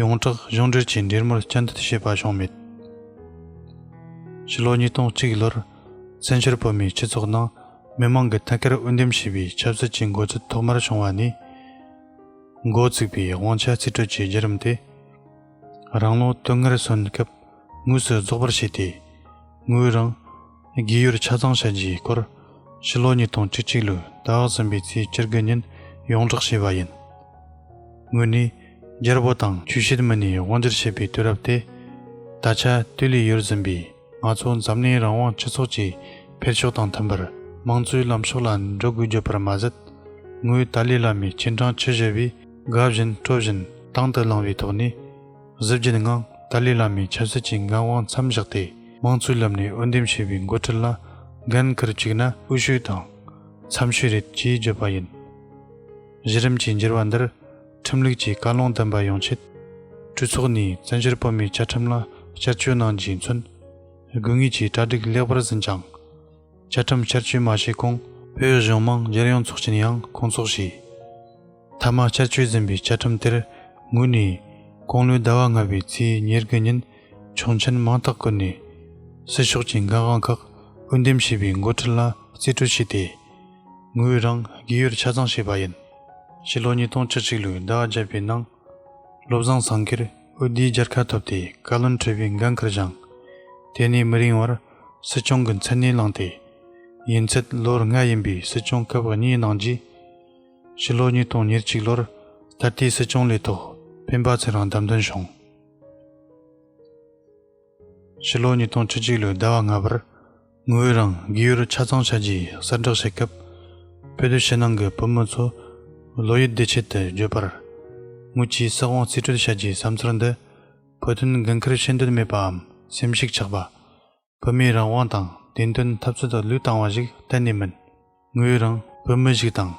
ཡོངས་གྲགས་གཞུང་འབྲེལ་གྱིས་འདྲེས་མར་སྤྱི་འཐུས་བྱས་པ་བྱུང་མེད། ཕྱི་ལོ་ཉིས་སྟོང་གཅིག་ལོར་བཙན་བྱོལ་བོད་མིའི་སྤྱི་ཚོགས་ནང་མི་མང་གི་ཐད་ཀར་དབུ་འདེམས་བྱས་པའི་ཆབ་སྲིད་ཀྱི་འགོ་འཛུགས་ཐོག་མར་བྱུང་བ་ནི། འགོ་བཙུགས་པའི་དབང་ཆ་རྩིས་སྤྲོད་ཀྱི་བརྒྱུད་རིམ་དེ་རང་ལོ་དོན་ལྔར་སོན་སྐབས་དངོས་སུ་རྫོགས་པར་བྱས་ཏེ། ངོས་རང། རྒས་ཡོལ་ཆ་ཚང་བྱས་རྗེས་སྐོར་ཕྱི་ལོ་ཉིས་སྟོང་བཅུ་གཅིག་ལོའི་ད་ཨག་ཟིམ་པའི་ཚེས་བཅིར་དགུན་ཉིན་ཡོངས་བསྒྲགས་བྱས་པ་ཡིན། དངོས་གནས་རྒྱལ་པོ་དང་ཆོས་བྱེད་མི་སྣས་དབང་བསྒྱུར་བྱས་པའི་དུས་རབས་དེ། ད་ཆ་དུས་ལས་ཡོལ་ཟིན་པའི་ང་ཚོ་འཛམ་གླིང་རང་དབང་སྤྱི་ཚོགས་ཀྱི་འཕེལ་ཕྱོགས་དང་མཐུན་པར་དམངས་གཙོའི་ལམ་ཕྱོགས་ལ་འགྲོ་དགོས་བརྗོད་པར་མ་ཟད། ངོས་ཏཱ་ལའི་བླ་མའི་སྤྱན་དྲངས་ཆུ་བཞི་པའི་དགའ་བཞིན་སྤྲོ་བཞིན་དྭང་དུ་བླངས་པའི་ཐོག་ནས། གཟི་བརྗིད་ངང་ཏཱ་ལའི་བླ་མའི་ཆབ་སྲིད་ཀྱི་འགན་དབང་མཚམས་བཞག་སྟེ་དམངས་གཙོའི་ལམ་ནས་འོས་འདེམས་བྱས་པའི་འགོ་ཁྲིད་ལ་འགན་འཁུར་བཅུག་ན་དབུལ་ཤུལ་དང། འཚམས་ཤུལ་རེད་ཅེས་བརྗོད་པ་ཡིན། གཞི་རིམ་གྱི་འགྱུར་བ་འདིར་ཁྲིམས་ལུགས་ཀྱི་བཀའ་བློན་བསྟན་པ་ཡོང་ཆེད། གྲོས་ཚོགས་ནས་བཙན་བྱོལ་བོད་མིའི་བཅའ་ཁྲིམས་ལ་བསྐྱར་བཅོས་གནང་རྒྱུས་མཚོན། དགོས་ངེས་ཀྱི་གྲ་སྒྲིག་ལེགས་པར་ཟིན་ཀྱང། བཅའ་ཁྲིམས་བསྐྱར་བཅོས་མ་བྱས་གོང། བོད་གཞུང་དམངས་གཞས་གཡོ་འཚོགས་ཀྱིན་ཡང་སྐོང་འཚོགས་བྱས། ཐ་མ་ཤར་ཆོས་འཛིན་པའི་བཅའ་ཁྲིམས་དེར་ངོས་ནས། དགུང་ལོའི་ཟླ་བ་ལྔ་བའི་ཚེས་ཉེར་དགུ་ཉིན་ཆོག་མཆན་མང་དག་བཀོད་ནས། སྲིད་ཕྱོགས་ཀྱི་འགན་དབང་ཁག་དབུ་འདེམས་བྱས་པའི་མགོ་ཁྲིད་ལ་རྩིས་སྤྲོད་བྱས་ཏེ། ངོས་རང་དགེ་ཡུལ་ཆ་ཚང་བྱས་པ་ཡིན། ཕྱི་ལོ་ཉིས་སྟོང་བཅུ་གཅིག་ལོའི་ཟླ་བ་བརྒྱད་པའི་ནང། བློ་བཟང་ཟངས་གྷིར་དབུས་བསྡུའི་རྒྱལ་ཁ་ཐོབ་སྟེ་བཀའ་བློན་ཁྲི་པའི་འགན་ཁུར་སྦྱངས། དེ་ནས་མི་རིང་བར་སྲིད་སྐྱོང་གི་མཚན་གནས་བླངས་ཏེ། ཡུན་ཚད་ལོར་ལྔ་ཡིན་པའི་སྲིད་སྐྱོང་སྐབས་གཉིས་གནང་རྗེས། ཕྱི་ལོ་ཉིས་སྟོང་ཉེར་གཅིག་ལོར་ད་ལྟའི་སྲིད་སྐྱོང་ལས་ཐོག་སྤེན་པ་ཚེ་རིང་བདམས་ཐོན་བྱུང། ཕྱི་ལོ་ཉིས་སྟོང་བཅུ་གཅིག་ལོའི་ཟླ་བ་ལྔ་པར་དངུལ་བུན་རང་དགེ་ཡུལ་ཆ་ཚང་བྱ་རྒྱུའི་གསལ་བསྒྲགས་བྱས་སྐབས། བོད་དུ་ཕྱི་ནང་གི་བོད་མི་ཚོ་བློ་ཡུལ་བདེ་ཆེད་དུ་བརྗོད་པར། དངུལ་གྱིས་བསགས་དབང་རྩིས་སྤྲོད་བྱ་རྒྱུའི་བསམ་ཚུལ་འདི་བོད་དོན་འགན་འཁུར་ཤེས་འདོད་མེད་པའམ་སེམས་ཤུགས་ཆག་པ། བོད་མིའི་རང་དབང་དང་བདེན་དོན་འཐབ་རྩོད་དང་ལུས་བཏང་བ་ཞིག་གཏན་ནས་མིན། ངོས་རང་བོད་མི་ཞིག་དང།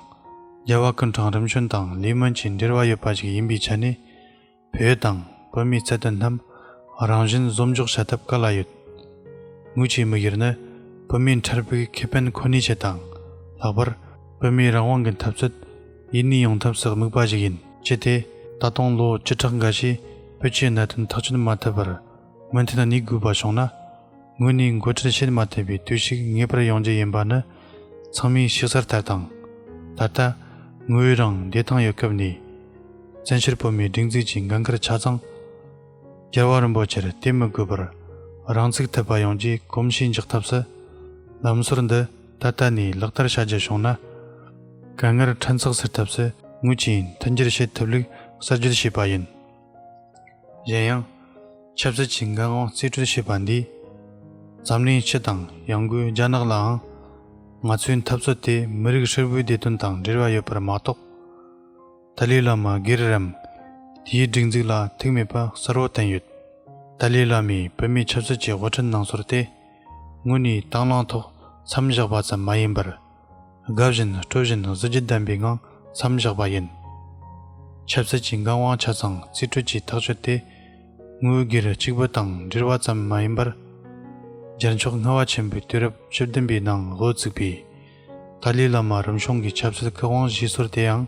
རྒྱལ་བ་ཀུན་གྲངས་རིམ་བྱོན་དང་ལི་མོན་གྱི་འབྲེལ་བ་ཡོད་པ་ཞིག་ཡིན་པའི་ཆ་ནས། བོད་དང་བོད་མིའི་རྩ་དོན་རྣམས་རང་བཞིན་བཟོ་འཇོག་བྱ་ཐབས་ག་ལ་ཡོད། ངོས་ཀྱི་དམིགས་ཡུལ་ནི་བོད་མིའི་འཕྲལ་ཕུགས་ཁེ་ཕན་ཁོ་ནའི་ཆེད་དང། ལྷག་པར་བོད་མིའི་རང་དབང་གི་འཐབ་རྩོད་ཡུན་གནས་ཡོང་ཐབས་སུ་དམིགས་པ་ཞིག་ཡིན། ཅི་སྟེ། ད་དུང་ལོ་བཅུ་ཕྲག་འགའ་ཤས་བོད་ཀྱི་གནད་དོན་ཐག་གཅོད་མ་ཐུབ་པར། སྔོན་དེ་དང་ནི་དགོས་པ་བྱུང་ན། དངོས་ནས་མགོ་ཁྲིད་བྱེད་མ་ཐུབ་པའི་དུས་ཤིག་ངེས་པར་ཡོང་རྒྱུ་ཡིན་པ་ནི་ཚང་མས་ཤེས་གསལ་ལྟར་དང། ད་ལྟ། དངོས་ཡོད་རང་བདེ་ཐང་ཡོད་སྐབས་ནས། བཙན་བྱོལ་བོད་མིའི་སྒྲིག་འཛུགས་ཀྱི་འགན་ཁུར་ཆ་ཚང། རྒྱལ་བ་རིན་པོ་ཆེར་གཏད་མི་དགོས་པར། རང་ཚུགས་ཐུབ་པ་ཡོང་རྒྱུའི་གོམས་གཤིས་འཇགས་ཐབས་སུ། ལམ་སྲོལ་འདི་ད་ལྟ་ནས་ལག་བསྟར་བྱ་རྒྱུ་བྱུང་ན། དཀའ་ངལ་ཕྲན་ཚེགས་སེལ་ཐབས་སུ་དངུལ་གྱིས་མཐུན་འགྱུར་བྱེད་ཐུབ་ལུགས་གསར་བརྗོད་བྱས་པ་ཡིན། གཞན་ཡང། ཆབ་སྲིད་ཀྱི་འགན་དབང་རྩིས་སྤྲོད་བྱས་པ་འདིས། འཛམ་གླིང་སྤྱི་དང་ཡང་སྒོས་རྒྱ་ནག་ལའང། ང་ཚོའི་འཐབ་རྩོད་དེ་མི་རིགས་ཧྲིལ་པོའི་བདེ་དོན་དང་འབྲེལ་བ་ཡོད་པར་མ་གཏོགས། ཏཱ་ལའི་བླ་མ་སྒེར་རམ། དེའི་སྒྲིག་འཛུགས་ལ་ཐུག་མེད་པ་གསལ་བོར་བསྟན་ཡོད། ཏཱ་ལའི་བླ་མས་བོད་མིའི་ཆབ་སྲིད་ཀྱི་དབུ་ཁྲིད་གནང་ཟུར་དེ། དངོས་ནས་དྭང་བླངས་ཐོག་མཚམས་བཞག་པ་ཙམ་མ་ཡིན་པར། དགའ་བཞིན་སྤྲོ་བཞིན་གཟི་བརྗིད་ལྡན་པའི་ངང་མཚམས་བཞག་པ་ཡིན། ཆབ་སྲིད་ཀྱི་འགན་དབང་ཆ་ཚང་རྩིས་སྤྲོད་ཀྱི་ཐག་གཅོད་དེ་དངུལ་སྒེར་གཅིག་པུ་དང་འབྲེལ་བ་ཙམ་མ་ཡིན་པར། རྒྱལ་མཆོག་ངྷ་བ་ཆེན་པོའི་དུས་རབས་བཅུ་བདུན་པའི་ནང་དབུ་བཙུགས་པའི་ཏཱ་ལའི་བླ་མ་རིམ་བྱུང་གི་ཆབ་སྲིད་བཀའ་དབང་བཞི་ཟུར་དེའང་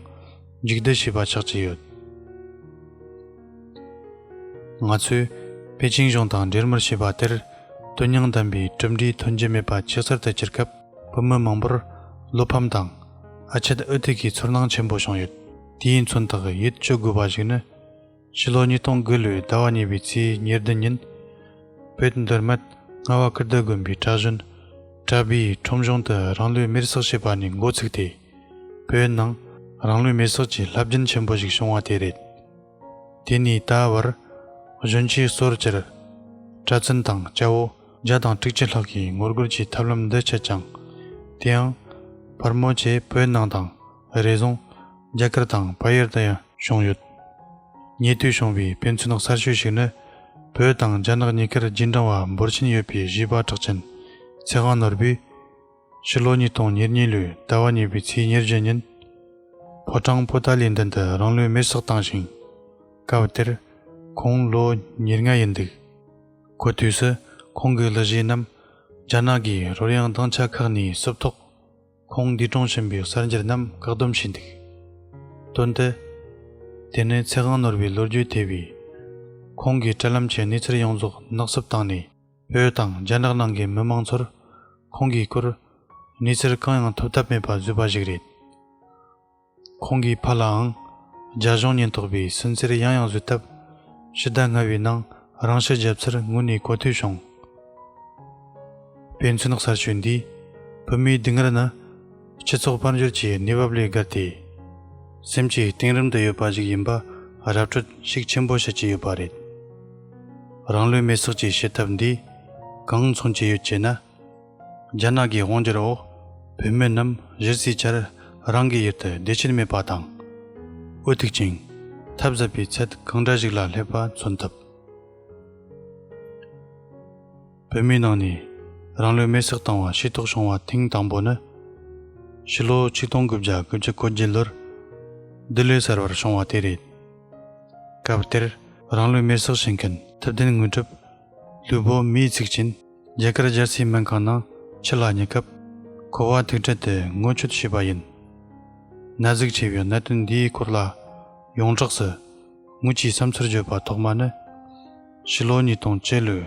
མཇུག་བསྡུ་བྱས་པ་ཆགས་ཀྱི་ཡོད། ང་ཚོས་པེ་ཅིང་གཞུང་དང་འབྲེལ་མར་བྱས་པ་དེར་དོན་སྙིང་ལྡན་པའི་གྲུབ་འབྲས་ཐོན་གྱི་མེད་པ་ཆེས་གསལ་དུ་གྱུར་སྐབས། བུ་མོ་མང་པོར་བློ་ཕམ་དང་ཨ་ཆད་ཨུ་ཐིག་གི་ཚོར་སྣང་ཆེན་པོ་བྱུང་ཡོད། དེ་ཡིན་ཚུན་ཐག་ཡིད་གཅོད་དགོས་པ་ཞིག་ནི། ཕྱི་ལོ་ཉིས་སྟོང་དགུ་ལོའི་ཟླ་བ་གཉིས་པའི་ཚེས་ཉེར་བདུན་ཉིན། བོད་འདིར་མད་རྔ་བ་ཀིརྟི་དགོན་པའི་གྲྭ་གཞོན་གྲྭ་བི་ཡིས་ཁྲོམ་གཞུང་དུ་རང་ལུས་མེར་བསྲེགས་བྱས་པ་ནས་མགོ་ཚུགས་ཏེ། བོད་ནང་རང་ལུས་མེར་བསྲེགས་ཀྱི་ལྷ་བརྒྱུད་ཆེན་པོ་ཞིག་བྱུང་བ་དེ་རེད། དེ་ནས་ད་བར་གཞོན་སྐྱེས་སོར་བཅུར་གྲྭ་བཙུན་དང་སྐྱ་བོ་བརྒྱ་དང་དྲུག་ཅུ་ལྷག་གིས་ངོ་རྒོལ་གྱི་ཐབས་ལམ་འདི་སྤྱད་ཀྱང། དེའང་བར་མོ་ཆེ་བོད་ནང་དང་རེ་ཟུང་རྒྱ་གར་དང་བལ་ཡུལ་དུ་ཡང་བྱུང་ཡོད། ཉེ་དུས་བྱུང་བའི་ཕན་ཚུན་གསར་ཤོས་ཤིག་ནི་བོད་དང་རྒྱ་ནག་གཉིས་ཀར་རྗེས་འབྲང་བ་འབོར་ཆེན་ཡོད་པའི་གཞས་པ་གྲགས་ཅན་ཚེ་དབང་ནོར་བུས། ཕྱི་ལོ་ཉིས་སྟོང་ཉེར་གཉིས་ལོའི་ཟླ་བ་གཉིས་པའི་ཚེས་ཉེར་བརྒྱད་ཉིན། ཕོ་བྲང་པོ་ཏཱ་ལའི་མདུན་དུ་རང་ལུས་མེར་བསྲེགས་བཏང་ཞིང། སྐབས་དེར་ཁོང་ལོ་ཉེར་ལྔ་ཡིན་འདུག་གོ། དུས་སུ་ཁོང་གི་ལི་གཞས་རྣམས་རྒྱ་ནག་གི་རོལ་དབྱངས་དྭངས་ཆ་ཁག་ནས་བསུབས་ཐོག་ཁོང་འདས་གྲོངས་ཕྱིན་པའི་གསར་འགྱུར་རྣམས་བཀག་སྡོམ་བྱས་འདུག་དོན་དུ། དེ་ནི་ཚེ་དབང་ནོར་བའི་ལོ་རྒྱུས་ཐེ་བའི། ཁོང་གི་སྤྲེལ་ལམ་གྱི་གནས་ཚུལ་ཡོངས་རྫོགས་ནག་བསུབ་བཏང་ནས། བོད་དང་རྒྱ་ནག་ནང་གི་མི་མང་ཚོར་ཁོང་གིས་བསྐུར་གནས་ཚུལ་གང་ཡང་ཐོབ་ཐབས་མེད་པ་བཟོས་པ་ཞིག་རེད། ཁོང་གི་ཕ་ལའང་རྒྱ་གཞུང་ཉེན་རྟོག་པས་སུན་གཙེར་ཡང་ཡང་བཟོས་སྟབས་ཕྱི་ཟླ་ལྔ་བའི་ནང་རང་ཤི་བརྒྱབ་ཚུལ་དངོས་གནས་གོ་ཐོས་བྱུང། དཔེ་མཚོན་གསར་ཤོས་འདིས་བོད་མིའི་སྡུག་བསྔལ་ནི་སྤྱི་ཚོགས་དཔལ་འབྱོར་གྱི་གནས་བབ་ལས་བརྒལ་ཏེ། སེམས་ཀྱི་གཏིང་རིམ་དུ་ཡོད་པ་ཞིག་ཡིན་པ་ར་སྤྲོད་ཤུགས་ཆེན་པོ་བྱེད་ཀྱི་ཡོད་པ་རེད། རང་ལུས་མེ་སྲེག་བཅས་བྱེད་ཐབས་འདི་གང་མཚུངས་ཅི་ཡོད་ཅེ་ན། རྒྱ་ནག་གི་དབང་སྒྱུར་འོག་བོད་མི་རྣམས་གཞི་རྩའི་ཆར་རང་གི་ཡུལ་དུ་བདེ་ཆེན་མེད་པ་དང། འུ་ཐུག་ཅིང་ཐབས་ཟད་པའི་ཚད་གང་འདྲ་ཞིག་ལ་སླེབས་པ་མཚོན་ཐུབ། བོད་མིའི་ནང་ནས་རང་ལུས་མེར་སྲེག་བཏང་བ་ཤེས་རྟོགས་བྱུང་བ་ཐེངས་དང་པོ་ནི། ཕྱི་ལོ་ཆིག་སྟོང་དགུ་བརྒྱ་དགུ་བཅུ་གོ་བརྒྱད་ལོར་ལྡི་ལི་གསར་པར་བྱུང་བ་དེ་རེད། སྐབས་དེར་རང་ལུས་མེར་སྲེག་བྱེད་མཁན་ཐུབ་བསྟན་དངོས་གྲུབ། ལུས་པོ་མེས་ཚིག་ཅན། རྒྱ་གར་རྒྱལ་སའི་སྨན་ཁང་ནང་ཕྱི་ལ་ཉེ་སྐབས། ཁོ་བ་ཐུག་འཕྲད་དེ་ངོ་ཆོད་བྱས་པ་ཡིན། ན་ཟུག་ཆེ་བའི་གནད་དོན་འདིའི་སྐོར་ལ་ཡོངས་གྲགས་སུ། ངུ་ཆའི་བསམ་ཚུལ་བརྗོད་པ་ཐོག་མ་ནི། ཕྱི་ལོ་ཉིས་སྟོང་བཅུ་ལོའི།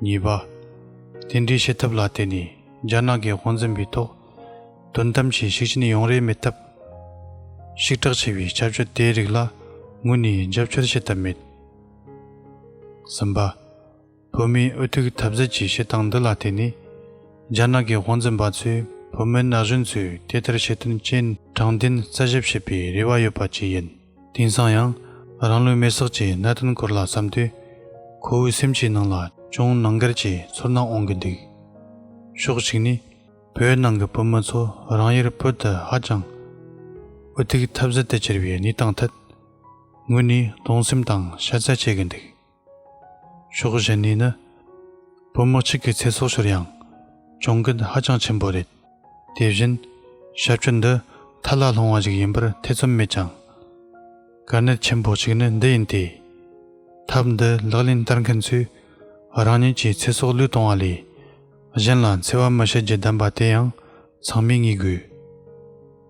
གཉིས་པ། དེ་འདྲའི་བྱེད་ཐབས་ལ་བརྟེན་ནས་རྒྱ་ནག་གི་དབང་འཛིན་པའི་ཐོག་དོན་དམ་གྱི་ཤུགས་རྐྱེན་ཡོང་རེ་མེད་སྟབས། ཤུགས་དྲག་ཆེ་བའི་ཁྱབ་སྤྱོད་དེའི་རིགས་ལ་ངོས་ནས་རྒྱབ་སྐྱོར་བྱེད་ཐབས་མེད། གསུམ་པ། བོད་མིའི་འུ་ཐུག་འཐབ་རྩོད་ཀྱི་བྱེད་སྟངས་འདི་ལ་བརྟེན་ནས། རྒྱ་ནག་གི་དབང་འཛིན་པ་ཚོས་བོད་མི་ན་གཞོན་ཚོས་དེ་ལྟར་བྱེད་དོན་རྐྱེན་དྲང་བདེན་རྩད་ཞིབ་བྱེད་པའི་རེ་བ་ཡོད་པ་བཅས་ཡིན། དེང་སང་ཡང་རང་ལུས་མེར་སྲེག་གྱི་གནད་དོན་སྐོར་ལ་བསམ་དུས། ཁོ་བོའི་སེམས་ཀྱི་ནང་ལ་ཅུང་ནང་འགལ་གྱི་ཚོར་སྣང་འོང་གི་འདུག་ཕྱོགས་གཅིག་ནས་བོད་ནང་གི་བོད་མི་ཚོ་རང་ཡུལ་བོད་དུ་ཧ་ཅང་འུ་ཐུག་ཐབས་ཟད་དུ་གྱུར་བའི་གནས་སྟངས་ཐད་ངོས་ནས་གདུང་སེམས་དང་ཕྱག་འཚལ་བྱེད་ཀྱི་འདུག། ཕྱོགས་གཞན་ནས་ནི། བུ་མོ་གཅིག་གི་ཚེ་སྲོག་ཤོར་ཡང། གྱོང་གུད་ཧ་ཅང་ཆེན་པོ་རེད། དེ་བཞིན། ཞབས་ཞུ་འདི་མཐའ་ལ་ལྷུང་བ་ཞིག་ཡིན་པར་ཐེ་ཚོམ་མེད་ཀྱང། དཀའ་གནད་ཆེན་པོ་གཅིག་ནི་འདི་ཡིན་ཏེ། ཐབས་འདི་ལག་ལེན་བསྟར་མཁན་ཚོས་རང་ཉིད་ཀྱི་ཚེ་སྲོག་བློས་གཏོང་བ་ལས། གཞན་ལ་འཚེ་བ་མི་བྱེད་རྒྱུ་བདམས་པ་དེ་ཡང་ཚང་མས་ངེས་དགོས།